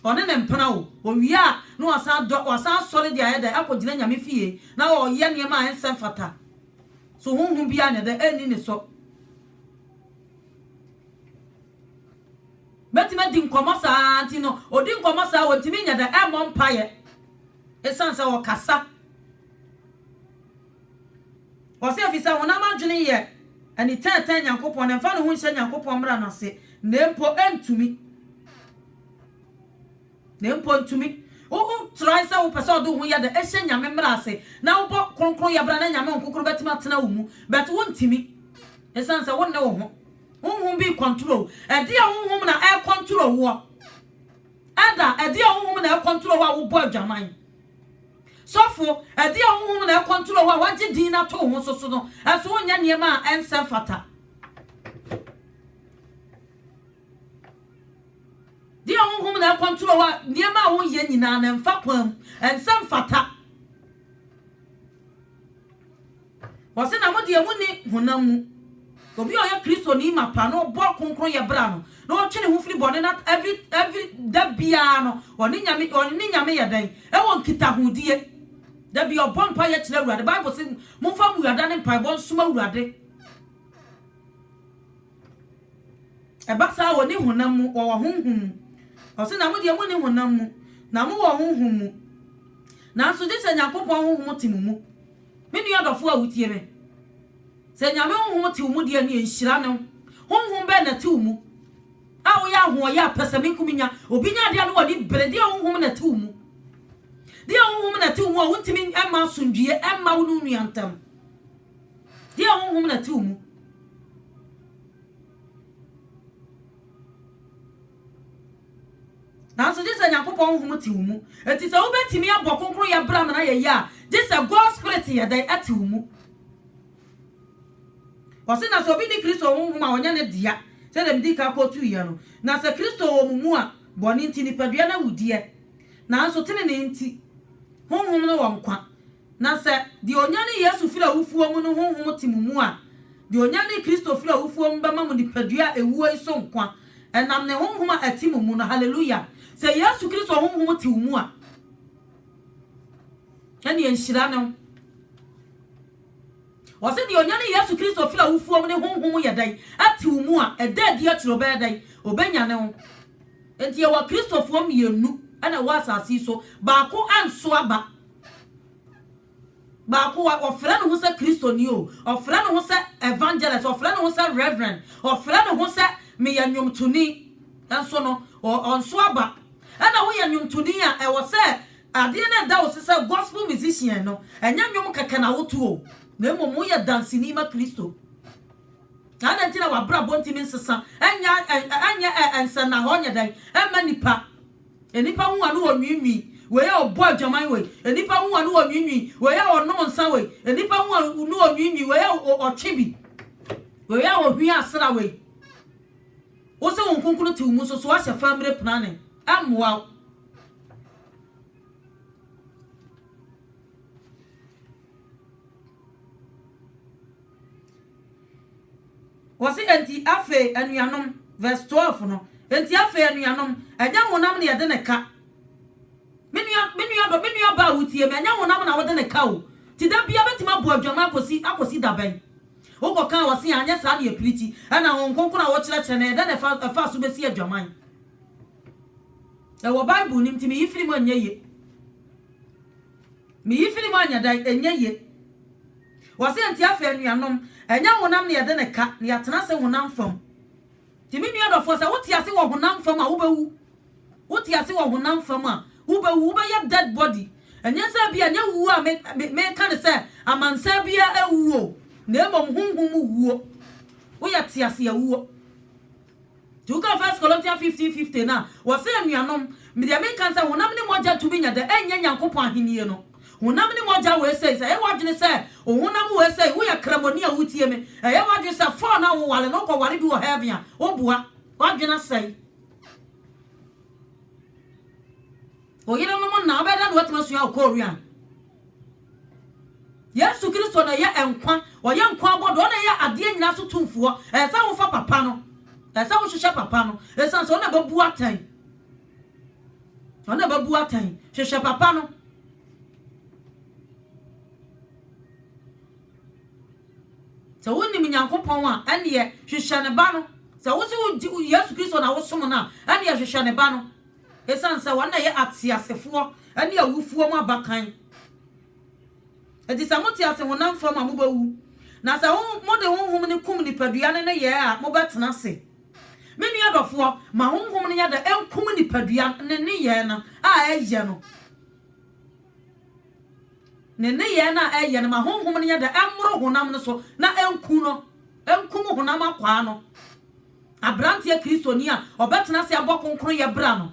ɔne ne mpena o. Owie a, na wasan dɔ, wasan asɔre de ayɛ dɛ, akɔgyina Nyame fie, na ɔreyɛ nneɛma a ɛnsɛ mfata. So honhom biara nyɛ dɛ? Enni ne so. Bɛtumi adi nkɔmmɔ saa ara nti no, odi nkɔmmɔ saa a, wɔntumi nyɛ dɛ, ɛmmɔ mpaeɛ, esiane sɛ ɔkasa. Ɔse efisɛ honam adwene yɛ ani tɛɛtɛɛ Nyankopɔn na ɛmfa ne ho nhyɛ Nyankopɔn mmara no ase na mpo ɛntumi na mpo ntumi wo wo try sɛ wopɛ sɛ ɔde wo ho yɛ dɛ ɛhyɛ Nyame mmara ase na wobɔ kronkron yɛ bra na Nyame honkokoro bɛtumi atena wo mu but wontumi ɛsiane sɛ wonne wo ho honhom bi kɔntoro wo ɛdeɛ honhom na ɛkɔntoro woɔ ɛda ɛdeɛ honhom na ɛkɔntoro wo a wobɔ adwaman Sɔfo, ɛdeɛn honhom na ɛkɔntrol wo a wagye din no ato wo ho so so no? Ɛso wonyɛ nneɛma a ɛnsɛ mfata? Deɛ honhom na ɛkɔntrol wo a nneɛma a wonyɛ nyinaa no ɛmfa kwan mu, ɛnsɛ mfata? Wɔse na modeɛ monni honam mu. Obi a ɔyɛ Kristoni mapa na ɔbɔ kronkronyɛ bra no, na ɔtwe ne ho firi bɔne na every every da biara no ɔne Nyame ɔne ne Nyame yɛ dɛn? Ɛwɔ nkitahodie. Da biara ɔbɔ mpaeɛ kyerɛ Awurade. Bible se momfa mmuada ne mpaebɔ nsom Awurade. Ɛba saa a, wɔnni honam mu, wɔwɔ honhom mu. Ɔse, na mo deɛ monni honam mu, na mowɔ honhom mu, nanso gye sɛ Nyankopɔn honhom te mo mu. Me nua dɔfoɔ a wotie me, sɛ Nyame honhom te wo mu deɛ ɛno yɛ nhyira ne wo. Honhom bɛn na ɛte wo mu a woyɛ ahoɔyɛ a pɛsɛmenkominya, obi nya adeɛ a ne w'ani bere? Deɛ honhom na ɛte wo mu. Deɛ honhom na ɛte wo mu a wontumi mma asomdwoeɛ mma wo ne wo nua ntam. Deɛ honhom na ɛte wo mu. Nanso gye sɛ Nyankopɔn honhom te wo mu. Enti sɛ wobɛtumi abɔ kronkronyɛ bra ma no ayɛ yie a, gye sɛ God Spirit yɛ dɛn? Ɛte wo mu. Ɔse na sɛ obi ne Kristo honhom a, ɔnyɛ ne dea, sɛdeɛ medii kan kɔtuiɛ no. Na sɛ Kristo wɔ mo mu a, bɔne nti, nipadua no awudiɛ. Nanso tenenee nti, honhom no wɔ nkwa. Na sɛ deɛ ɔnyanee Yesu firii awufoɔ mu no honhom te mo mu a, deɛ ɔnyanee Kristo firii awufoɔ mu bɛma mo nipadua a ɛwuo yi so nkwa, ɛnam ne honhom a ɛte mo mu no. Hallelujah! Sɛ Yesu Kristo honhom te wo mu a, ɛnneɛ nhyira ne wo. Ɔse deɛ ɔnyanee Yesu Kristo firii awufoɔ mu ne honhom yɛ dɛn? Ɛte wo mu a, ɛda adi akyire ɔbɛyɛ dɛn? Ɔbɛnyane wo. Enti yɛwɔ Kristofoɔ mmienu na ɛwɔ asase yi so, baako anso aba. Baako, wa, ɔfrɛ ne ho sɛ Kristoni o, ɔfrɛ ne ho sɛ evangelist, ɔfrɛ ne ho sɛ reverend, ɔfrɛ ne ho sɛ meyɛ nnwomtoni, nso no, ɔ, ɔnso aba. Ɛna woyɛ nnwomtoni a, ɛwɔ sɛ adeɛ no ɛda wo so sɛ gospel musician no, ɛnyɛ nnwom kɛkɛ na woto o, na mmom woyɛ danseni ma Kristo. Adɛn nti na w'abrabɔ ntumi nsesa, ɛnyɛ, ɛnyɛ nsɛnnahɔɔ nyɛ dɛn mma nnipa? Nnipa hu a ne wɔnwiinwii, wei a ɔbɔ adwaman wei. Nnipa hu a ne wɔnwiinwii, wei a ɔnom nsa wei. Nnipa hu a ne wɔnwiinwii, wei a ɔtwe bi. Wei a ɔhwia asra wei. Wo sɛ wo nkonkunu te wo mu nso so ahyɛ fa mmire prane. Ɛmmoa wo. Wɔse enti afei anuanom, verse twelve no, enti afei anuanom, ɛnyɛ honam na yɛde no ka, me nua, me nua ba, me nua ba a wotie me, ɛnyɛ honam na wode no ka o, ti da bia bɛtumi abu adwama akɔsi akɔsi da bɛn? Wokɔ kan wɔse anyɛ saa na yɛpiri ti, ɛna Honhom Kronkron a wokyerɛkyerɛ no, ɛyɛ dɛn na ɛfa ɛfa so bɛsi adwaman? Ɛwɔ Bible no mu, nti meyi firi mu ɛnyɛ ye. Me yi film anyɛ dan ɛnyɛ ye. Wɔse nti afei anuanom, ɛnyɛ honam na yɛde no ka, na yɛatena ase honam fam. Nti me nua dɔfoɔ, sɛ wote ase wɔ honam fam a, wobɛwu. Wote ase wɔ honam fam a, wobɛwu. Wobɛyɛ dead body. Ɛnyɛ sɛ ebia, ɛnyɛ wuo a meka no sɛ amansan biara awuo, na mmom honhom wuo. Woyɛ teaseawuo. Nti woka First Corinthians fifteen fifteen no a, wɔse, Anuanom, deɛ mereka ne sɛ, honam ne mogya tumi nya dɛ, ɛnyɛ Nyankopɔn ahennie no. Honam ne mogya wei sei, sɛ ɛyɛ w'adwene sɛ wo honam wei sei, woyɛ kramoni a wotie me, ɛyɛ w'adwene sɛ four no a woware no wokɔware bi wɔ heaven a, woboa. W'adwene asɛe. Wo yerenom na wobɛyɛ dɛn na woatumi asua wɔ Korean? Yesu Kristo na ɛyɛ nkwa, ɔyɛ nkwa abɔdɔ, ɔna ɛyɛ adeɛ nyinaa so tumfoɔ. Ɛyɛ sɛ wofa papa no, ɛyɛ sɛ wohwehwɛ papa no, ɛsiane sɛ ɔna ɛbɛbu atɛn. Ɔna ɛbɛbu atɛn, hwehwɛ papa no. Sɛ wonim Nyankopɔn a, ɛneɛ hwehwɛ ne ba no. Sɛ wo se Yesu Kristo na wosom no a, ɛneɛ hwehwɛ ne ba no. Esiane sɛ wɔn na ɛyɛ ateasefoɔ ne awufoɔ mu abakan nti, sɛ mote ase honam fam a, mobɛwu. Na sɛ mode honhom no kum nipadua no nneyɛɛ a, mobɛtena ase. Me nua dɔfoɔ, ma honhom no nyɛ dɛ nkum nipadua no ne nneyɛɛ no a ɛyɛ no. Ne nneyɛɛ no a ɛyɛ no, ma honhom no nyɛ dɛ mmoro honam no so na ɛnku no, ɛnkum honam akwaa no. Aberanteɛ Kristoni a ɔbɛtena ase abɔ kronkronyɛ bra no,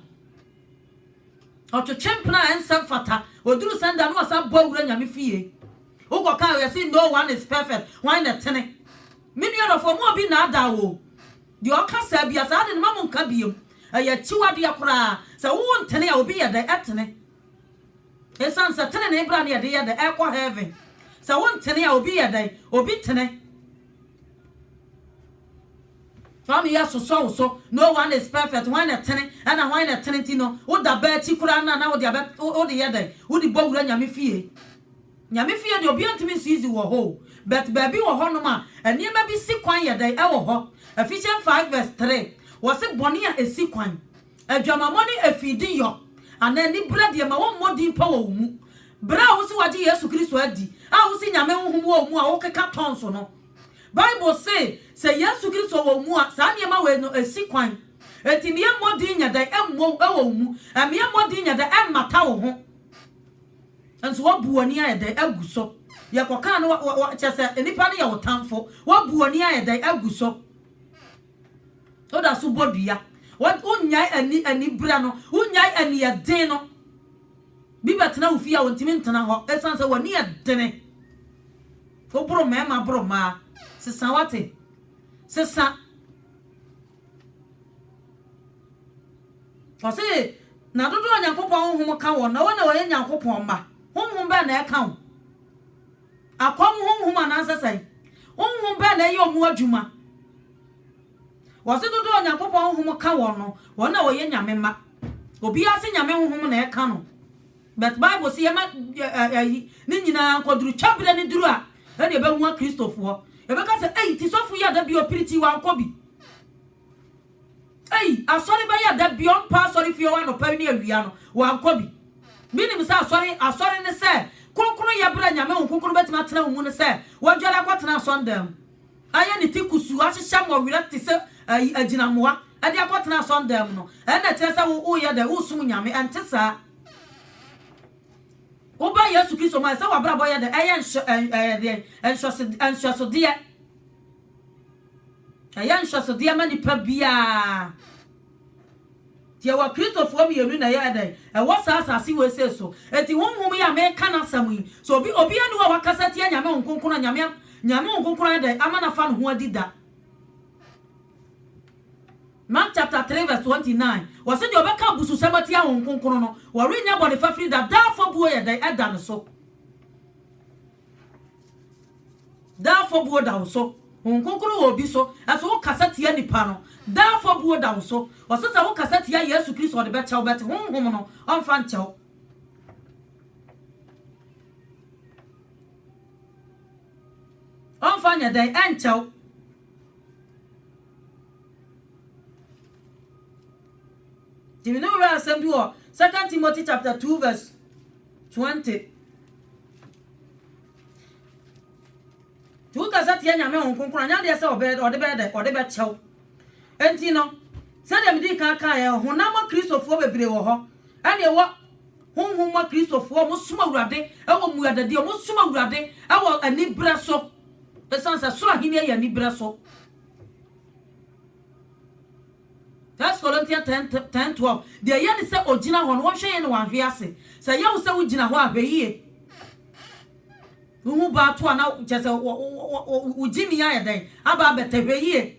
ɔtwetwe mpena a ɛnsɛ mfata, ɔduru sɛn da no na ɔsan bɔ awura Nyame fie. Wokɔka a wɔse no one is perfect, hwan na ɛtene? Me nua dɔfoɔ, mma obi nnaadaa wo o. Deɛ ɔka saa bia, saa ade no mma monka biom. Ɛyɛ akyiwadeɛ koraa. Sɛ wo ntene a, obi yɛ dɛn? Ɛtene. Ɛsiane sɛ tenenee bra no yɛde yɛ dɛn? Ɛkɔ heaven. Sɛ wo ntene a, obi yɛ dɛn? Obi tene. Fa me yɛ sosɔ wo so. No one is perfect, hwan na ɛtene? Ɛna hwan na ɛtene nti no woda bɛ akyi koraa no a na wode abɛ wode yɛ dɛn? Wode bɔ wura Nyame fie. Nyame fie deɛ obiara ntumi nso easy wɔ hɔ o but baabi wɔ hɔ nom a nneɛma bi si kwan yɛ dɛn ɛwɔ hɔ. Ephesians five verse three wɔse bɔne a esi kwan, adwamammɔ ne afiidi yɔ anaa anibra deɛ ma wɔmmɔ din pa wɔ wo mu. Bere a wose wɔagye Yesu Kristo adi a wose Nyame honhom wɔ wo mu a wokeka tɔnso no. Bible se sɛ Yesu Kristo wɔ wo mu a saa nneɛma wei no si kwan. Enti mmea mmɔ din nyɛ dɛn mmɔ wo wɔ wo mu. Mmea mmɔ din nyɛ dɛn mmata wo ho. Nso woabu w'ani ayɛ dɛn agu so. Yɛkɔkaa no kyerɛ sɛ nnipa no yɛ wo tamfo. Woabu w'ani ayɛ dɛn agu so. Woda so bɔ dua. Wonnyae ani anibere no. Wonnyae ani yɛ den no. Bi bɛtena wo fie a ontumi ntena hɔ esiane sɛ w'ani yɛ dene. Woboro mmarima boro mmaa. Sesa wate. Sesa. Ɔse na dodoɔ a Nyankopɔn honhom ka wɔn na wɔn na wɔyɛ Nyankopɔn mma. Honhom bɛn na ɛka wo? Akɔm honhom anaa nsesae honhom bɛn na ɛyɛ wɔn adwuma? Wɔse dodoɔ a Onyankopɔn honhom ka wɔn no, wɔn na wɔyɛ Nyame mma. Obiara se Nyame honhom na ɛka no, but Bible se yɛma ɛyi ne nyinaa nkɔ duru, twa berɛ no duru a ɛne ɛbɛhu akristofoɔ. Yɛbɛka sɛ ei, ti sɔfo yi ada bi ɔpiri ti wankɔ bi. Ei, asɔre bɛyɛ a da biara ɔmpa asɔrefie hɔ anɔpa ne awia no, wankɔ bi. Menim sɛ asɔre, asɔre ne sɛ, kronkronyɛ bere a Nyame Honhom Kronkron no bɛtumi atena wo mu ne sɛ, wadware akɔtena asɔndan mu, ayɛ ne ti kusuu, ahyehyɛ mmɔwerɛ te sɛ ɛyi, agyinamoa, de akɔtena asɔndan mu no, ɛnna ɛkyerɛ sɛ wo, woyɛ dɛ, wosom Nyame. Ɛnte saa. Woba Yesu Kristo mu a, ɛsɛ sɛ w'abrabɔ yɛ dɛ, ɛyɛ nhwɛ, ɛyɛ deɛn? Nhwɛso, nhwɛsodeɛ. Ɛyɛ nhwɛsodeɛ ma nipa biara. Nti ɛwɔ Kristofoɔ mmienu na ɛyɛ dɛn? Ɛwɔ saa asase wei sei so. Nti honhom yi a meka n'asɛm yi, sɛ obi obiara nni hɔ a wakasa atia Nyame Honhom Kronkron a Nyame Nyame Honhom Kronkron ayɛ dɛn? Ama no afa ne ho adi da. Mark chapter 3 verse 29, wɔse deɛ ɔbɛka abususɛm atia Honhom Kronkron no, wɔrennya bɔne fafiri da, daa afɔbuo yɛ dɛn? Ɛda ne so. Daa afɔbuo da wo so. Honhom Kronkron wɔ obi so a, so wokasa tia nipa no? Daa afɔbuo da wo so. Ɔsɛ sɛ wokasa tia Yesu Kristo a ɔde bɛkyɛ wo, but honhom no, ɔmfa nkyɛ wo. Ɔmfa nyɛ dɛn? Ɛnkyɛ wo. Nti me ne wo werɛ asɛm bi wɔ Second Timothy chapter 2 verse 20. Nti wokasa tia Nyame Honhom Kronkron a, nyɛ adeɛ sɛ ɔbɛ, ɔde bɛyɛ dɛ, ɔde bɛkyɛ wo. Enti no, sɛdeɛ medii kan kaeɛ, honam mɔ Kristofoɔ bebree wɔ hɔ, ɛne ɛwɔ Honhom mɔ Kristofoɔ a wɔsom Awurade wɔ mmuadadie, wɔsom Awurade wɔ aniberɛ so, ɛsiane sɛ Soro Ahennie yɛ aniberɛ so. First Corinthians ten ten twelve, Deɛ ɛyɛ ne sɛ ɔgyina hɔ no, wɔnhwɛ yɛ na wɔanhwe ase. Sɛ ɛyɛ wo sɛ wogyina hɔ a, hwɛ yie. Wohu baa to a na kyerɛ sɛ wo gyimi ayɛ dɛn? Aba abɛtɛ, hwɛ yie.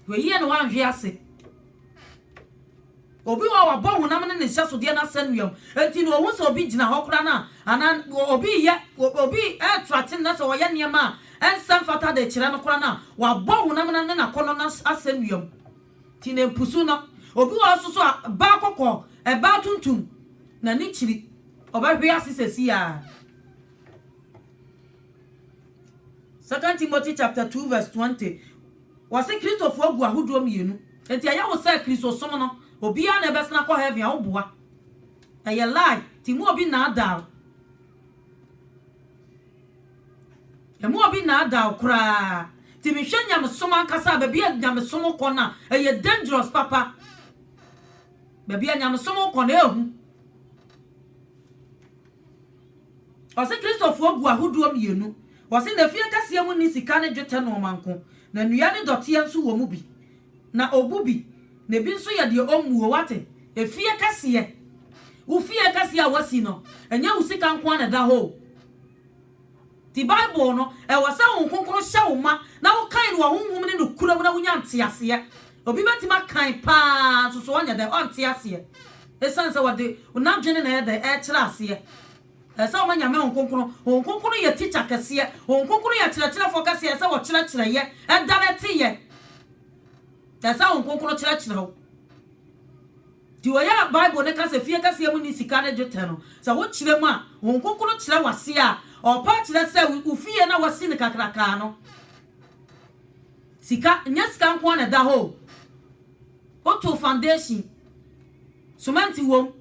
Hwɛ yie na wɔanhwe ase. Obi wɔ hɔ a, wɔabɔ honam ne ne nhyɛsodeɛ no asɛnnuam. Enti no, ɔhu sɛ obi gyina hɔ koraa no a, anaa obi reyɛ, obi reto akyene na sɛ ɔyɛ nneɛma a ɛnsɛ mfata de kyerɛ no koraa no a, wɔabɔ honam no ne n'akɔnnɔ no asɛnnuam. Enti na mpusu no. Obi wɔ hɔ nso so a, baa kɔkɔɔ, ɛbaa tuntum, na ne kyiri, ɔbɛhwe ase sɛsi ara. Second Timothy chapter 2 verse 20 Wɔse Kristofo agu ahodoɔ mmienu. Enti ɛyɛ wo sɛ Kristosom no obiara na ɛbɛsena akɔ heaven a, woboa. Ɛyɛ lie, ti emu obi nnaadaa wo. Emu obi nnaadaa wo koraa. Ti mehwɛ nyamesom ankasa a, baabi a nyamesom kɔ no a, ɛyɛ dangerous papa. Baabi a nyamesom kɔ no, ɛyɛ hu. Ɔse Kristofoɔ gu ahodoɔ mmienu. Ɔse n'efie kɛseɛ mu nni sika ne dwetɛ nnoɔma nko, na nnua ne dɔteɛ nso wɔ mu bi. Na ɔbu bi, na ebi nso yɛ deɛ ɔmmuo. Woate? Efie kɛseɛ. Wo fie kɛseɛ a woasi no, ɛnyɛ wo sika nko ara na ɛda hɔ o. Ti Bible no, ɛwɔ sɛ Honhom Kronkron hyɛ wo ma na wokan no wɔ honhom ne nokorɛ mu na wonya nteaseɛ. Obi bɛtumi akan pa ara nso so ɔnyɛ dɛn? Ɔnte aseɛ. Ɛsiane sɛ wɔde n'adwene na ɛyɛ dɛn? Ɛrekyerɛ aseɛ. Ɛsɛ sɛ wɔma Nyame Honhom Kronkron. Honhom Kronkron no yɛ tikya kɛseɛ. Honhom Kronkron yɛ kyerɛkyerɛfoɔ kɛseɛ. Ɛsɛ sɛ wɔkyerɛkyerɛ yɛ. Ɛda no ɛte yɛ. Ɛsɛ sɛ Honhom Kronkron kyerɛkyerɛ wo. Nti ɔyɛ a Bible no ka sɛ fie kɛseɛ mu nni sika ne dwetɛ no, sɛ wokyerɛ mu a, Honhom Kronkron kyerɛ wo aseɛ a, ɔpɛ akyerɛ sɛ wo fie no a woasi no kakrakaa no, sika, nyɛ sika nko ara na ɛda hɔ o. Wotoo foundation, semɛnte wom,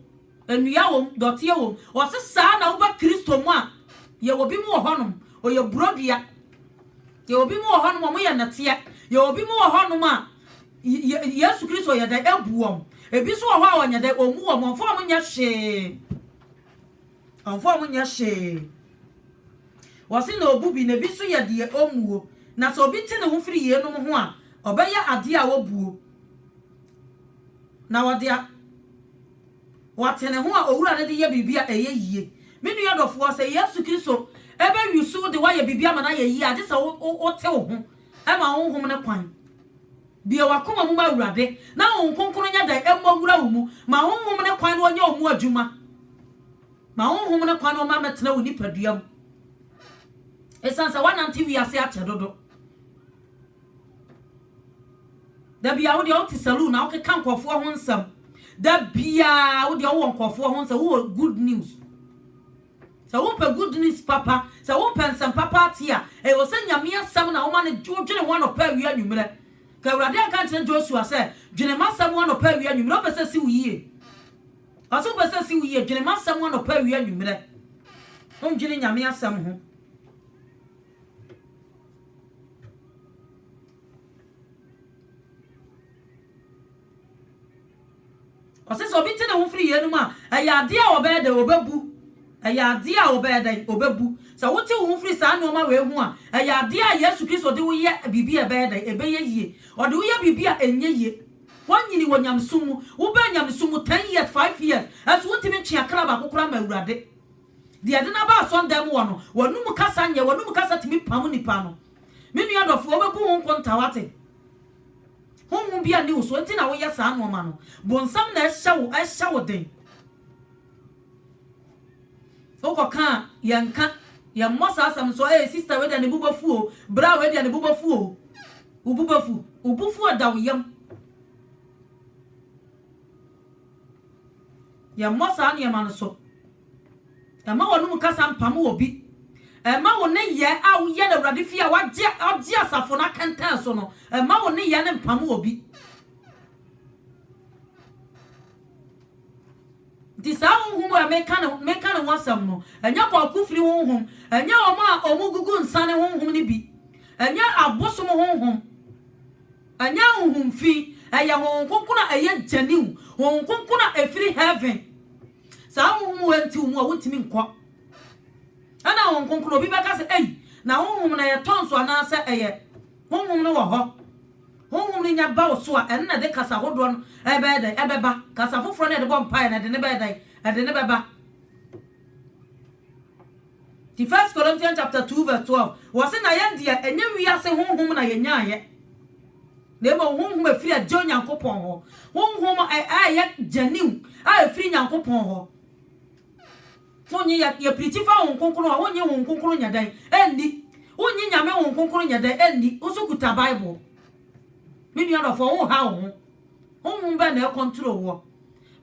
nnua wom, dɔteɛ wom. Ɔse saa na woba Kristo mu a, yɛwɔ bi mu wɔ hɔnom, ɔyɛ borɔdua. Yɛwɔ bi mu wɔ hɔnom a, wɔyɛ nnɛteɛ. Yɛwɔ bi mu wɔ hɔnom a, Yesu Kristo yɛ dɛn? Ebu wɔn. Ebi nso wɔ hɔ a ɔnyɛ dɛn? Ommu wɔn. Ɔmfa wɔn nyɛ hwee. Ɔmfa wɔn nyɛ hwee. Wɔse na obu bi, na ebi nso yɛ deɛ ommuo. Na sɛ obi te ne ho firi yeinom ho a, ɔbɛyɛ adeɛ a obuo. Na ɔde a wate ne ho a Owura no de yɛ biribi a ɛyɛ yie. Me nua dɔfoɔ, sɛ Yesu Kristo bɛwusu wo de woayɛ biribi ama no ayɛ yie a, gye sɛ wote wo ho. Ma honhom no kwan. Bue w'akoma mu ma Awurade, na honhom kronkron nyɛ dɛn? Mmɔ nwura wo mu. Ma honhom no kwan na ɔnyɛ wo mu adwuma. Ma honhom no kwan na ɔma mɛtena wo nipadua mu. Ɛsiane sɛ woanante wiase akyɛ dodo. Da biara wo deɛ wote saloon na wokeka nkurɔfoɔ ho nsɛm. Da biara wo deɛ wowɔ nkurɔfoɔ ho nsɛm, wowɔ good news. Sɛ wopɛ good news papa, sɛ wopɛ nsɛm papa atie a, ɛwɔ sɛ Nyame asɛm na woma no, wodwene ho anɔpa awia anwummerɛ. Ka Awurade anka nkyerɛ Joshua sɛ, dwene m'asɛm ho anɔpa awia anwummerɛ, wopɛ sɛ ɛsi wo yie? Ɔse wopɛ sɛ ɛsi wo yie, dwene m'asɛm ho anɔpa awia anwummerɛ. Wondwene Nyame asɛm ho. Ɔse sɛ obi twe ne ho firi yeinom a, ɛyɛ adeɛ a ɔbɛyɛ dɛn? Ɔbɛbu. Ɛyɛ adeɛ a ɔbɛyɛ dɛn? Ɔbɛbu. Sɛ wotwe wo ho firi saa nnoɔma wei ho a, ɛyɛ adeɛ a Yesu Kristo de wo yɛ biribi a ɛbɛyɛ dɛn? Ɛbɛyɛ yie. Ɔde wo yɛ biribi a ɛnyɛ yie. Woanyini wɔ nyamesom mu. Wobɛɛ nyamesom mu ten years, five years, nso wontumi ntwe akra baako koraa mma Awurade. Deɛ ɛde no aba asɔndan mu hɔ no, w'anum kasa nyɛ, w'anum kasa tumi pam nnipa no. Me nua dɔfoɔ, wobɛbu wo nkonta, wate? Honhom biara nni wo so nti na woyɛ saa nnoɔma no. Bonsam na ɛhyɛ wo ɛhyɛ wo den. Wokɔ ka a, yɛn nka. Yɛn mmɔ saa asɛm nso. Ee sista wei deɛ ne bo bɛfu o. Bra wei deɛ ne bo bɛfu o. Wo bo bɛfu. Wo bo fuo da wo yam. Yɛn mmɔ saa nneɛma no so. Mma w'anom kasa mpamo obi. Mma wo nneyɛɛ a woyɛ no Awurade fie a wɔagye asafo no akɛntɛn so no, mma wo nneyɛɛ no mpamo obi. Nti saa honhom a meka ne ho asɛm no, ɛnyɛ kwaku firi honhom, ɛnyɛ wɔn a wɔgugu nsa ne honhom no bi, ɛnyɛ abosom honhom, ɛnyɛ honhom fi, ɛyɛ Honhom Kronkron a ɛyɛ genuine, Honhom Kronkron a ɛfiri heaven. Saa honhom wei nti wɔn a wɔntumi nkɔ. Ɛna wɔn nkonkron obi bɛka sɛ ei na honhom no ɛyɛ tɔn so anaasɛ ɛyɛ honhom no wɔ hɔ. Honhom no nya ba wo so a ɛno na ɛde kasa hodoɔ no ɛbɛyɛ dɛn ɛbɛba. Kasa foforɔ no ɛde bɔ mpaeɛ no ɛde ne bɛyɛ dɛn ɛde ne bɛba. Ti First Corinthians chapter 2 verse 12 wɔse na yɛn deɛ ɛnyɛ wiase honhom na yɛnyaeɛ. Na mmom honhom a ɛfiri Agya Onyankopɔn hɔ, honhom a ɛyɛ gyaniw a ɛfiri Nyankopɔn hɔ. Wonnye yɛ, yɛpirikyi fa Honhom Kronkron a, wonnye Honhom Kronkron nyɛ dɛn? Ɛnni. Wonnye Nyame Honhom Kronkron nyɛ dɛn? Ɛnni. Wo nso kuta Bible. Me nua dɔfoɔ, wonha wo ho. Honhom bɛn na ɛkɔntro woɔ?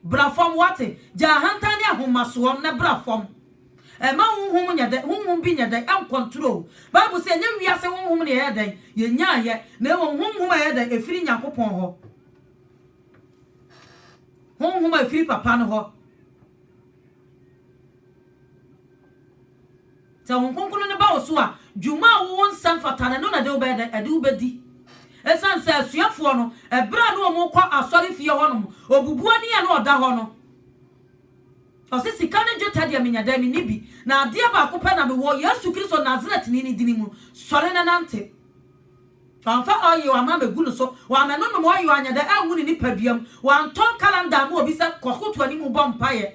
Bra fam, woate? Gyaa ahantan ne ahomasoɔ no na bra fam. Ɛmma honhom nyɛ dɛn? Honhom bi nyɛ dɛn? Ɛnkɔntrol. Bible se ɛnyɛ wiase honhom na yɛyɛ dɛn? Yɛnyaeɛ, na mmom honhom a ɛyɛ dɛn? Ɛfiri Nyankopɔn hɔ. Honhom a ɛfiri Papa no hɔ. Sɛ Honhom Kronkron no ba wo so a, dwuma a wo nsa mfata no, ɛno na ɛde wo bɛyɛ dɛn? Ɛde wo bɛdi. Ɛsiane sɛ asuafoɔ no, ɛberɛ a na wɔkɔ asɔrefie hɔnom, ɔbubu ani a na ɔda hɔ no, Ɔse, Sika ne dwetɛ deɛ menya dɛn? Menni bi. Na adeɛ baako pɛ na mewɔ, Yesu Kristo Nasaretni no dini mu, sɔre na nante. Wamfa oil amma mɛgu no so, wammɛnonom oil anyɛ dɛ angu ne nipadua mu, wantɔn calendar amma obi sɛ kɔ koto anim bɔ mpaeɛ.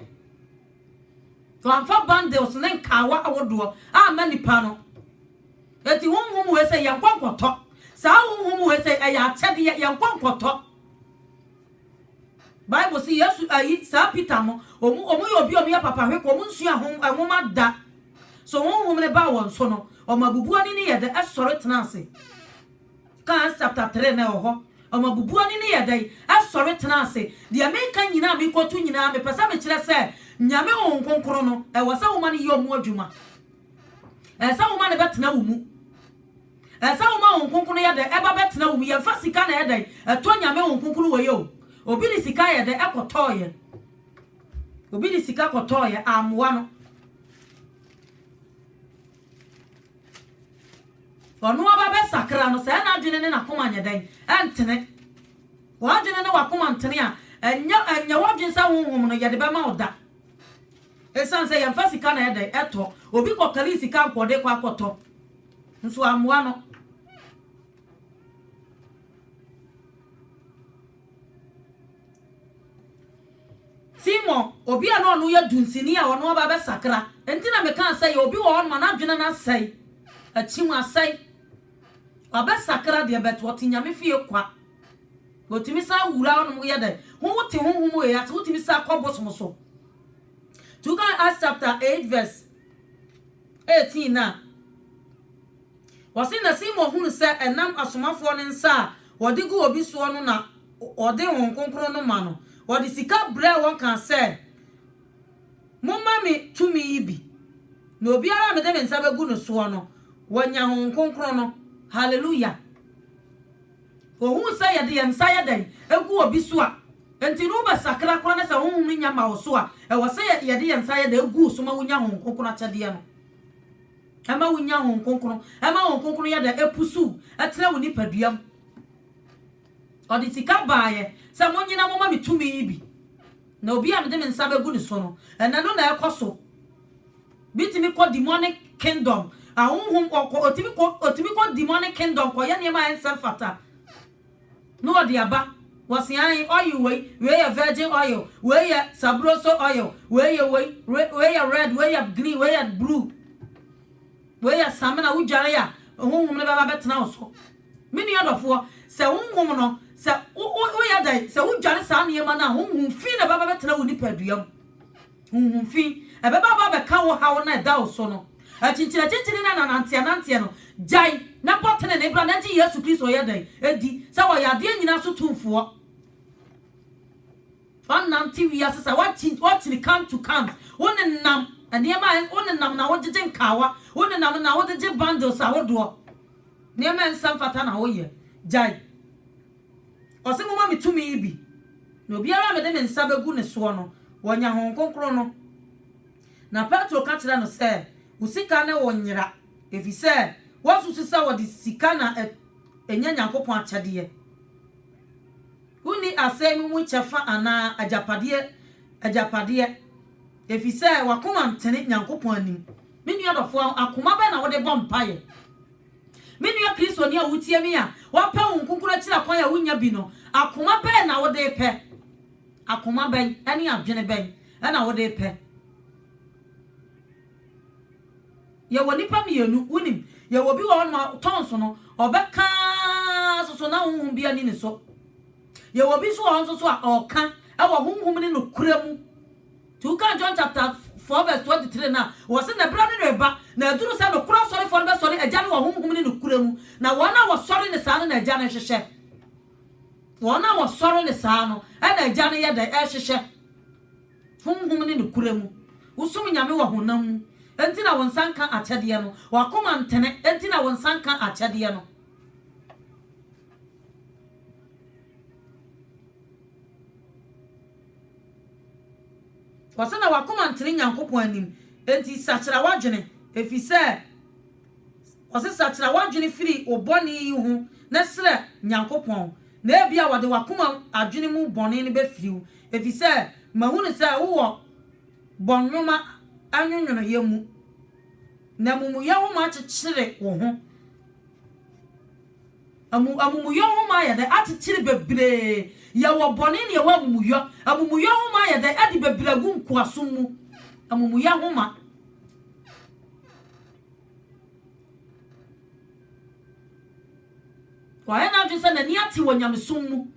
Wamfa bundles ne nkaawa ahodoɔ amma nnipa no. Enti honhom wei sei yɛnkɔ nkɔtɔ. Saa honhom wei sei ɛyɛ akyɛdeɛ, yɛnkɔ nkɔtɔ. Bible se Yesu ayi saa Peter no, wɔn wɔn yɛ obi a wɔyɛ papa hwekɔ, wɔn nsua hom nwoma da. So honhom no baa wɔn so no, wɔn abubu ani no yɛ dɛ ɛsɔre tena ase. Ka Acts chapter three na ɛwɔ hɔ. Wɔn abubu ani no yɛ dɛ ɛsɔre tena ase. Deɛ meka nyinaa mekotu nyinaa mepɛ sɛ mekyerɛ sɛ Nyame honhom kronkron no ɛwɔ sɛ woma no yɛ wɔn adwuma. Ɛsɛ sɛ woma no bɛtena wo mu. Ɛsɛ wo ma wo nkonkron yɛ dɛn ɛba bɛtena wo mu yɛnfa sika na ɛyɛ dɛn ɛtɔ nyame wo nkonkron wɔ yɛ o obi de sika yɛ dɛn ɛkɔ tɔɔ yɛ obi de sika kɔ tɔɔ yɛ ammoa no ɔno aba bɛ sakra no sɛ ɛna adwene ne nakoma nyɛ dɛn ɛntene wadwene ne wakoma ntene a ɛnyɛ ɛnyɛ wadwene sɛ honhom no yɛde bɛma wo da ɛsan sɛ yɛnfa sika na ɛyɛ dɛn ɛtɔ obi kɔ kali sika nkɔde kɔ akɔtɔ Nso ammoa no. Timor, obi a na ɔno yɛ dunsini a ɔno aba abɛsakra. Enti na meka sɛ yɛ obi wɔ hɔ no ma n'adwene no asɛe. Akyi mu asɛe. Wabɛsakra deɛ bɛt ɔte nyame fie kwa. Wɔtumi san wura hɔ nom yɛ dɛ. Ho wote honhom wei ase, wotumi san kɔ bosom so. Nti woka Acts chapter 8 verse 18 no a, wɔse na Simon hunu sɛ ɛnam asomafoɔ no nsa a wɔde gu obi soɔ no na wɔde Honhom Kronkron no ma no. Wɔde sika brɛɛ wɔn kaa sɛ, Momma me tumi yi bi, na obiara a mede me nsa bɛgu ne soɔ no, wanya Honhom Kronkron no. Haleluya! Wohuu sɛ yɛde yɛn nsa yɛ dɛn gu obi so a, enti no wobɛsakra koraa na sɛ honhom no nnya mma wo so a, ɛwɔ sɛ yɛde yɛn nsa yɛ dɛn gu wo so ma wunya Honhom Kronkron akyɛdeɛ no. Ɛma wunya Honhom Kronkron. Ɛma Honhom Kronkron yɛ dɛn ɛpusuw ɛtena wo nipadua mu. Ɔde sika baeɛ sɛ monnyina momma me tumi yi bi. Na obi a mede me nsa bɛgu ne so no, ɛnɛ no na ɛkɔ so. Bi tumi kɔ demonic kingdom, ahonhom ɔkɔ otumi kɔ otumi kɔ demonic kingdom kɔyɛ nneɛma a ɛnsɛ mfata na ɔde aba wɔsi ahen oil wei wei yɛ virgin oil wei yɛ sabroso oil wei yɛ wei wei yɛ red wei yɛ green wei yɛ blue wei yɛ samina wodware a honhom no bɛba bɛtena wo so me nua dɔfoɔ sɛ honhom no sɛ woyɛ dɛn sɛ wodware saa nneɛma no a honhom fi na bɛba bɛtena wo nipadua mu Honhom fi. Ɛbɛba aba abɛka wo haw no a ɛda wo so no. Akyinkyinakyinkyini ne ananteananteɛ no, gyae na bɔ tenenee bra na gye Yesu Kristo yɛ dɛn? Di sɛ ɔyɛ adeɛ nyinaa so tumfoɔ. Wonante wiase sa, woakyini come to comes, wonenam nneɛma a, wonenam na wogyegye nkaawa, wonenam na wode gye bundles ahodoɔ, nneɛma a ɛnsɛ mfata na woyɛ. Gyae. Ɔse moma me tumi yi bi, na obiara a mede me nsa bɛgu ne soɔ no, wanya Honhom Kronkron no. Na Petro ka kyerɛɛ no sɛ, Wo sika ne wo nyera, ɛfiri sɛ woasusu sɛ wɔde sika na ɛnya Nyankopɔn akyɛdeɛ. Wonni asɛm yi mu kyɛfa anaa agyapadeɛ agyapadeɛ, ɛfiri sɛ w'akoma ntene Nyankopɔn anim. Me nua dɔfoɔ, akoma bɛn na wode bɔ mpaeɛ? Me nua Kristoni a wutie me a woapɛ wo nkonkoro akyiri akwan a wunnya bi no, akoma bɛn na wode repɛ? Akoma bɛn ne adwene bɛn na wode repɛ? Yɛwɔ nnipa mmienu, wunim, yɛwɔ obi wɔ hɔnom a tɔn so no, ɔbɛka so so na honhom bi ani ne so. Yɛwɔ obi nso wɔ hɔ nso so a ɔka wɔ honhom ne nokorɛ mu. Nti wokaa John chapter four verse twenty three no a, wɔse, Na berɛ no reba, na aduru sɛ nokorɛ asɔrefoɔ no bɛsɔre Agya no wɔ Honhom ne nokorɛ mu, na wɔn a wɔsɔre no saa no na Agya no rehwehwɛ. Wɔn a wɔsɔre no saa no na Agya no yɛ dɛn? Rehwehwɛ. Honhom ne nokorɛ mu. Wosom Nyame wɔ honam mu, enti na wo nsa nka akyɛdeɛ no. W'akoma ntene, enti na wo nsa nka akyɛdeɛ no. Ɔse na w'akoma ntene Nyankopɔn anim, enti sakyera w'adwene, efisɛ Ɔse sakyera w'adwene firi wo bɔne yi ho na srɛ Nyankopɔn, na ebia Ɔde w'akoma adwene mu bɔne no bɛfiri wo, efisɛ mahunu sɛ wowɔ bɔnwoma nwonwonoeɛ mu, na amumuyɛ homa kyekyere wo ho. Amu, Amumuyɔ ho ma ayɛ dɛ akyekyere bebree, yɛwɔ bɔne na yɛwɔ amumuyɔ. Amumuyɔ ho ma ayɛ dɛ ade bebree agu nkoasom mu. Amumuyɔ ho ma. Wayɛ n'adwene sɛ n'ani ate wɔ nyamesom mu,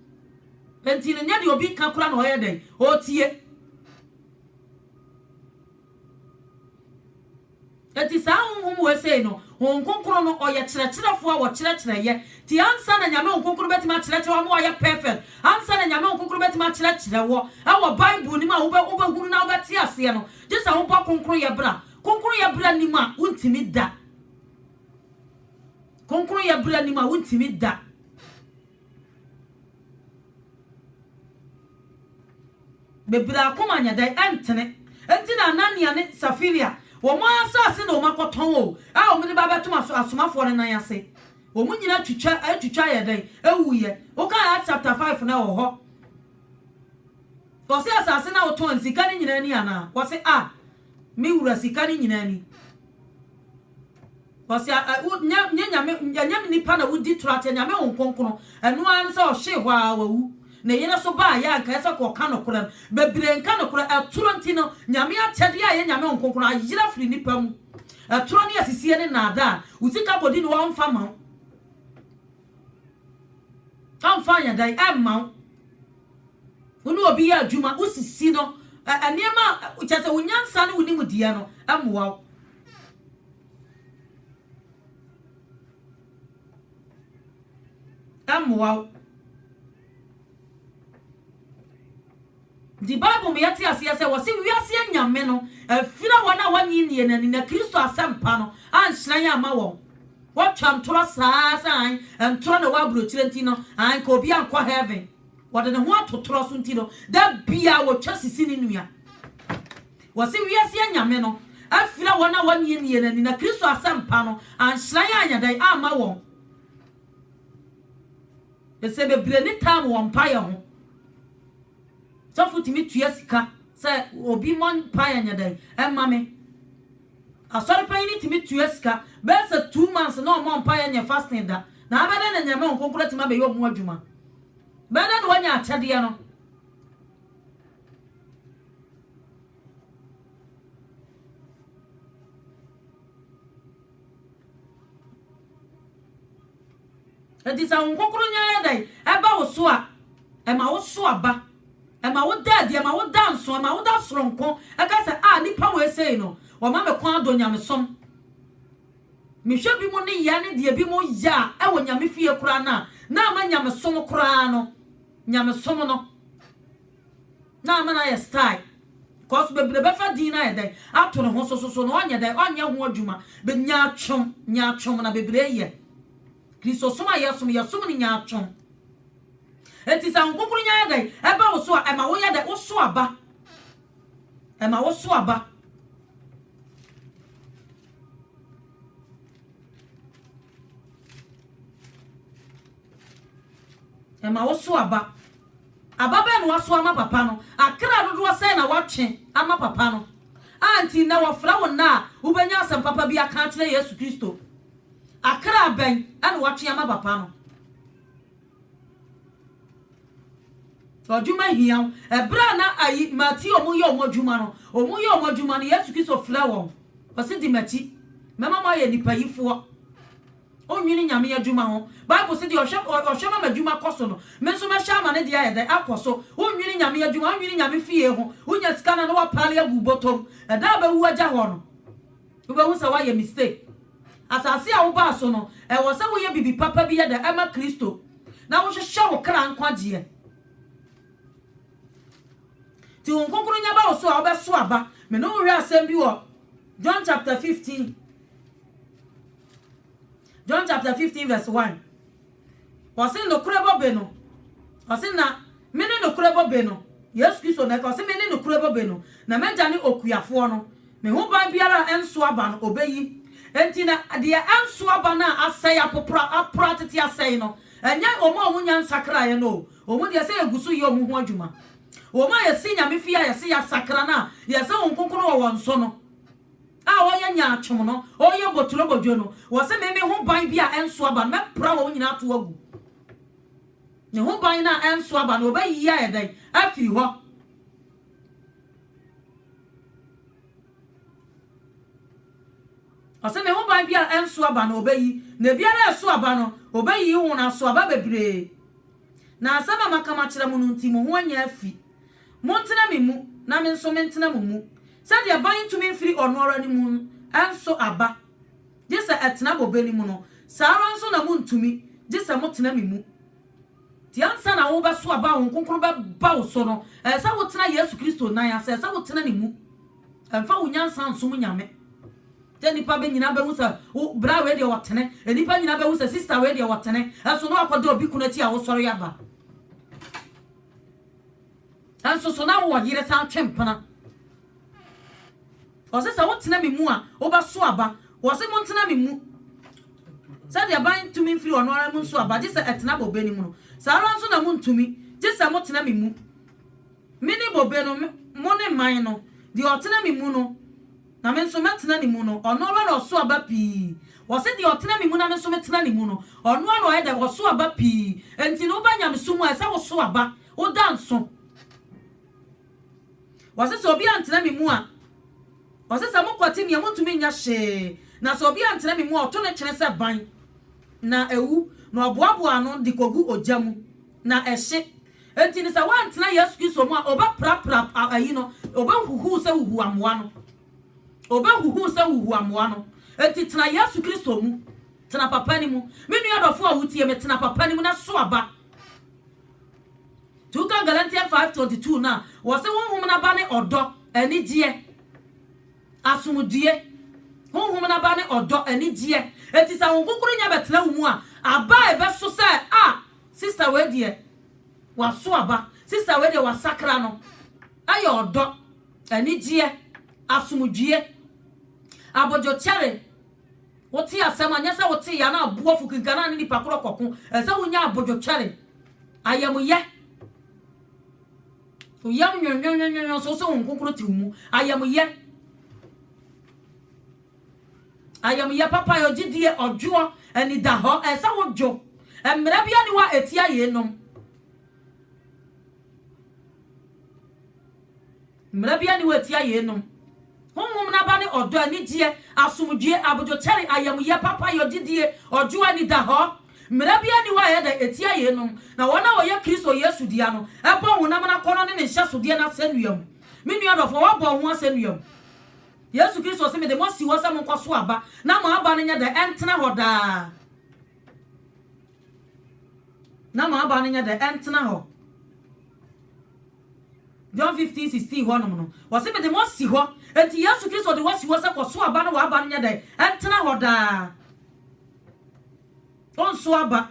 enti no nyɛ deɛ obi ka koraa na ɔyɛ dɛn? Ɔretie. Enti saa honhom wei sei no, Honhom Kronkron no, ɔyɛ kyerɛkyerɛfoɔ a ɔkyerɛkyerɛ yɛ. Nti ansa na Nyame Honhom Kronkron bɛtumi akyerɛkyerɛ wo ama wayɛ perfect, ansa na Nyame Honhom Kronkron bɛtumi akyerɛkyerɛ wɔ ɛwɔ Bible no mu a wobɛ wobɛhunu na wobɛte aseɛ no, gye sɛ wobɔ Kronkronyɛ bra. Kronkronyɛ bra nnim a, wontumi da. Kronkronyɛ bra nnim a, wontumi da. Bebree akoma nyɛ dɛn? Ɛntene. Enti na Anania ne Safiria, wɔn ara asase na wɔakɔtɔn o, a wɔde ba abɛtom asomafoɔ no nan ase. Wɔn nyinaa twitwa, atwitwa ayɛ dɛn? Awuiɛ. Wokan Acts chapter five no a, ɛwɔ hɔ. Wɔse asase no a wotɔn sika no nyinaa ni anaa? Wɔse, ah, Me wura sika no nyinaa ni. Ɔse a ɛ wo nyɛ nyɛ nyame ɛnyɛ nipa na wodi toro akyɛ nyame hon kronkron ɛno ara ne sɛ ɔhwee hɔ ara wawu ne yere so baa yɛ a nka ɛsɛ kɔ ɔka nokorɛ no bebree nka nokorɛ ɛtoro nti no nyame akyɛdeɛ a ɛyɛ nyame hon kronkron ayera firi nipa mu ɛtoro ne asisie ne nnaadaa wo sika kɔdi ne hɔ ɔmfa ma wo. Ɛmfa nyadan mma wo. Wo ne obi yɛ adwuma, wosisi no, nneɛma a kyerɛ sɛ wo nyansa ne wo nimdeɛ no mmoa wo. Ɛmmoa wo. Ntsi Bible mu yɛtse aseɛ sɛ wɔse wiase anyame no afira wɔn a wɔnnye nnie no ani na Kristo asɛmpa no anhyerɛn amma wɔn. Wɔtwa ntorɔ saa ara sɛ hann ntorɔ na ɛwɔ aburokyire nti no anka obi ankɔ heaven. Wɔde ne ho ato torɔ so nti no da biara wɔtwa sisi ne nua. Wɔse wiase anyame no afira wɔn a wɔnnye nnie no ani na Kristo asɛmpa no anhyerɛn anyɛ dɛn amma wɔn. Ɛsɛ bebree ne time wɔ mpaeɛ ho. Sɔfo tumi tua sika sɛ obi mmɔ mpae nyɛ dɛn mma me. Asɔre panyin tumi tua sika bɛyɛ sɛ two months na ɔmmɔ mpae nyɛ fasting da. Na abɛ dɛn na Nyame Honhom Kronkron atumi abɛyɛ ɔmo adwuma? Bɛyɛ dɛn na wanya akyɛdeɛ no? Enti sɛ Honhom Kronkron no yɛ dɛn? Ɛba wo so a, ɛma woso aba. Ɛma woda adi, ɛma woda nso, ɛma woda soronko. Ɛka sɛ, a, nnipa wei sei no, wɔma me kwan adɔ nyamesom. Mehwɛ bi mo ne yɛ ne deɛ bi mo yɛ a, ɛwɔ nyame fie koraa no a, na ama nyamesom koraa no, nyamesom no. Na ama no ayɛ style cos bebree bɛfa din no ayɛ dɛn ato ne ho so so so na ɔnyɛ dɛn ɔnyɛ ho adwuma be nyaatwom nyaatwom na bebree yɛ Kristosom a yɛsom yɛsom no nyaatwom enti sɛ ahokokoronyɛ ayɛ dɛn ɛba wo so a ɛma woyɛ dɛn woso aba ɛma woso aba ɛma woso aba. Aba bɛn na wɔasow ama papa no? Akra dodoɔ sɛn na wɔatwe ama papa no? A nti nnɛ wɔfrɛ wo nnɛ a wobɛnya asɛm papa bi aka akyerɛ Yesu Kristo. Akra bɛn na wɔatwe ama papa no? Adwuma hia wo. Ɛberɛ a na ayi, Mateo mo yɛ wɔn adwuma no, wɔn yɛ wɔn adwuma no, Yesu Kristo frɛ wɔn. Ɔse di m'akyi, mɛma mo ayɛ nnipa yifoɔ. Onnwene Nyame adwuma ho. Bible se deɛ ɔhwɛ ɔhwɛ ma m'adwuma kɔ so no, me nso mɛhwɛ ama ne deɛ ayɛ dɛn? Akɔ so. Wonnwene Nyame adwuma, wonnwene Nyame fie ho. Wonya sika no a na woapaale agu wo bɔtɔ mu. Ɛda a bɛwu agya hɔ no, wobɛhu sɛ woayɛ mistake. Asase a wobaa so no, ɛwɔ sɛ woyɛ biribi papa bi yɛ dɛn? Ɛma Kristo. Na wohwehwɛ wo kra nkwagyeɛ. Nti Honhom Kronkron nya ba wo so a, wobɛso aba. Me ne wo hwɛ asɛm bi wɔ John chapter 15. John chapter 15 verse 1. Ɔse nokorɛ bobe no. Ɔse na mene nokorɛ bobe no. Yesu Kristo na ɛka ɔse mene nokorɛ bobe no. Na m'agya ne okuafoɔ no. Me ho ban biara a ɛnso aba no ɔbɛyi. Enti na deɛ ɛnso aba no a asɛe apopra apra tete asɛe no ɛnyɛ wɔn a wɔnya nsakraeɛ no o. Wɔn deɛ sɛ yɛgu so yɛ wɔn ho adwuma. Wɔn a yɛsi nyame fie a yɛse yɛasakra no a yɛsɛ wɔn nkonkono wɔ wɔn so no. a ɔyɛ nyaatwom no, ɔyɛ boturobodwo no, ɔse, Me, me ho ban bi a ɛnso aba no, mɛpra wɔn nyinaa atow agu. Ne ho ban no a ɛnso aba no, ɔbɛyiyi ayɛ dɛn? Afiri hɔ. Ɔse, Me ho ban bi a ɛnso aba no, ɔbɛyi, na ebiara a ɛso aba no, ɔbɛyiyi ho, na aso aba bebree. Na asɛm a maka makyerɛ mo no nti, mo ho anya afi. Montena me mu, na me nso mentena mo mu. Sɛdeɛ ban ntumi mfiri ɔno ara ne mu nso aba, gye sɛ ɛtena bobe no mu no, saa ara nso na montumi, gye sɛ motena me mu. Nti ansa na wobɛso aba a Honhom Kronkron bɛba wo so no, ɛsɛ sɛ wotena Yesu Kristo nan ase, ɛsɛ sɛ wotena ne mu. Ɛmfa wo nyansa nsom nyame. Sɛ nnipa bɛ nyinaa bɛhu sɛ wo bra wei deɛ ɔtene, nnipa nyinaa bɛhu sɛ sista wei deɛ ɔtene, ɛso na wakɔda obi kunu akyi a wosɔre aba. Nanso so na wowɔ yere san twe mpena? Ɔse sɛ wotena me mu a wobɛso aba. Wɔse montena me mu. Sɛdeɛ ban ntumi mfiri ɔno ara mu nso aba gye sɛ ɛtena bobe no mu no, saa ara nso na montumi gye sɛ motena me mu. Mene bobe no, mone mman no. Deɛ ɔtena me mu no, na me nso mɛtena ne mu no, ɔno ara na ɔso aba pii. Wɔse deɛ ɔtena me mu na me nso metena ne mu no, ɔno ara na ɔyɛ dɛn? Ɔso aba pii. Enti no, woba nyamesom mu a, ɛsɛ woso aba, woda nso. Wɔse sɛ obi antena me mu a, wɔse sɛ mokwati me a, montumi nyɛ hwee. Na sɛ obi antena me mu a, ɔto ne twene sɛ ban, na ɛwu, na ɔboaboa ano de kɔgu ogya mu, na ɛhye. Enti no sɛ woantena Yesu Kristo mu a, obɛprapra ayi no, obɛhuhuw sɛ huhuamoa no. Obɛhuhuw sɛ huhuamoa no. Enti tena Yesu Kristo mu. Tena papa no mu. Me nua dɔfo a wotie me, tena papa no mu na so aba. Nti woka Galatians 5:22 no a, wɔse honhom no aba ne ɔdɔ, anigyeɛ, asomdwoe. Honhom no aba ne ɔdɔ, anigyeɛ. Enti sɛ Honhom Kronkron nya bɛtena wo mu a, aba a ɛbɛso sɛ a Sister wei deɛ waso aba. Sister wei deɛ wasakra no ɛyɛ ɔdɔ, anigyeɛ, asomdwie, abodwokyɛre wote asɛm a nyɛ sɛ wote yɛ na abu afu kenkan na ne nipa korɔ kɔko ɛsɛ wonya abodwokyɛre ayamuyɛ woyam nwenwenwenwenwen so sɛ wo nkonkoro te wo mu ayamuyɛ Ayamyɛ papa yɛ gyidie, ɔdwoɔ, anidahɔ, ɛsɛ wodwo. Mmara biara nni hɔ a ɛtia yeinom. Mmara biara nni hɔ a ɛtia yeinom. Honhom no aba ne ɔdɔ, anigyeɛ, asomdwoeɛ, abodwokyɛre, ayamyɛ, papayɔ, gyidie, ɔdwoɔ, anidahɔ. Mmara biara nni hɔ a ɛyɛ dɛ, ɛtia yeinom. Na wɔn a wɔyɛ Kristo Yesu dea no bɔ honam no akɔnnɔ ne ne nhyɛsodeɛ no asɛnnua mu. Me nua dɔfoɔ, woabɔ wo ho asɛnnua mu? Yesu Kristo se, Mede mo asi hɔ sɛ monkɔ so aba, na mo aba no nyɛ dɛ, ɛntena hɔ daa. Na mo aba no nyɛ dɛ, ɛntena hɔ. John 15, 16 hɔnom no, wɔse, Mede mo asi hɔ. Enti Yesu Kristo de wasi hɔ sɛ kɔ so aba na w'aba no nyɛ dɛ, ɛntena hɔ daa. Onso aba.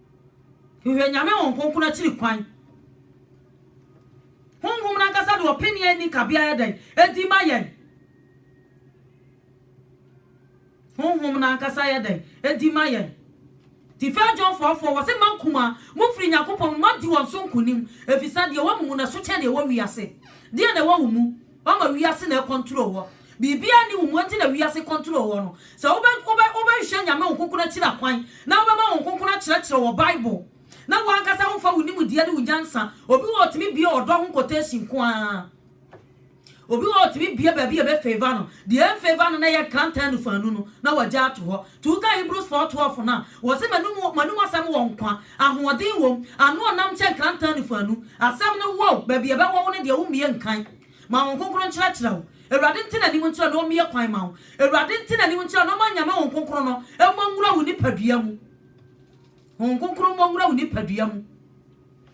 Hwehwɛ Nyame wɔ nkonkron akyiri kwan. Honhom no ankasa de ɔpene a ɛnni kabea yɛ dɛn? Ɛdi ma yɛn. Honhom no ankasa yɛ dɛn? Ɛdi ma yɛn. Ti fɛ John fɔɔfɔɔ, wɔse mma nkumaa, mofiri Nyankopɔn mu na moadi wɔn so nkonim, ɛfiri sɛ deɛ ɛwɔ mo mu no so kyɛn deɛ ɛwɔ wiase. Deɛn na ɛwɔ wo mu? Wama wiase na ɛcontrol wɔ. Biribiara nni wo mu enti na wiase control wɔ no. Sɛ wobɛ wobɛ wobɛhwehwɛ Nyame wo nkonkron akyiri akwan na wobɛma wo nkonkron akyerɛkyerɛ wɔ Bible na wo ankasa womfa wo nimdeɛ ne wo nyansa. Obi wɔ hɔ ɔtumi bue ɔdɔ ho quotation nko ara. Obi wɔ hɔ ɔtumi bue baabi a ɛbɛ favour no. Deɛ ɛnfavour no na ɛyɛ nkrantaa nufuanu no na wagya ato hɔ. To wo ka Hebrews 4:12 no a, wɔse, M'anom, m'anom asɛm wɔ nkwa, ahoɔden wom, ano ɔnam kyɛn krantaa nnifo anu. Asɛm no wɔ wo, baabi a ɛbɛwɔ wo ne deɛ wommie nkan. Ma Honhom Kronkron nkyerɛkyerɛ wo. Awurade nte n'anim nkyerɛ na ɔmmie kwan ma wo. Awurade nte n'anim nkyerɛ na ɔmma Nyame Honhom Kronkron no mmɔ nwura wo nipadua mu. Honhom Kronkron mmɔ nwura wo nipadua mu.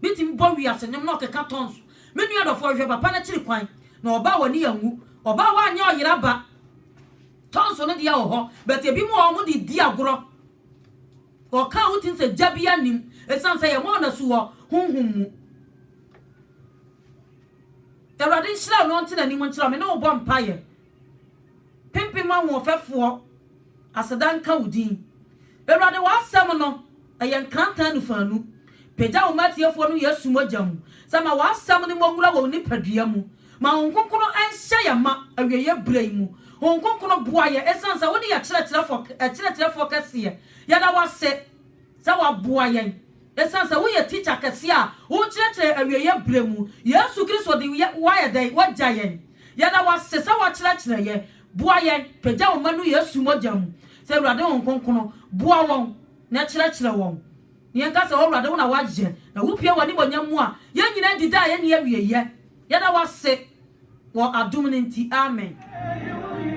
Betumi bɔ wiase nnwom na ɔkeka tɔn so. Me nua dɔfo, hwehwɛ papa no akyiri kwan, na ɔba a w'ani anwu. Ɔba a wanyɛ ɔyera ba. Tɔn so no deɛ wɔ hɔ, but ebi mo wɔ hɔ ɔmo de di agorɔ. Ɔka a wotim sɛ gya biara nnim, esiane sɛ yɛma wɔn asu wɔ honhom mu. Awurade nhyira wo na ɔnte n'anim nkyerɛ wo. Me ne wo bɔ mpaeɛ. Mpempem ahoɔfɛfoɔ, aseda nka wo din. Awurade w'asɛm no, ɛyɛ nkrantɛ anufaanu. Pagya wo mma atiefoɔ no Yesu mogya mu, sɛ ma w'asɛm no mmɔ nwura wɔ wo nipadua mu. Ma Honhom Kronkron nhyɛ yɛn ma awieɛ berɛ yi mu. Honhom Kronkron boa yɛn ɛsiane sɛ wone yɛn Kyerɛkyerɛfoɔ Kɛseɛ. Yɛda wo ase sɛ woaboa yɛn. Esiane sɛ woyɛ Tikya Kɛse a wokyerɛkyerɛ awieeɛ berɛ mu, Yesu Kristo de woayɛ dɛn? Woagya yɛn. Yɛda wo ase sɛ woakyerɛkyerɛ yɛn. Boa yɛn, pagya wo mma no Yesu mogya mu. Sɛ Awurade Honhom Kronkron, boa wɔn na kyerɛkyerɛ wɔn. Na yɛnka sɛ, O Awurade, wo na woayɛ, na wopue w'animuonyam mu a, yɛn nyinaa di da a ɛnni awieeɛ. Yɛda wo ase wɔ adom no nti. Amen.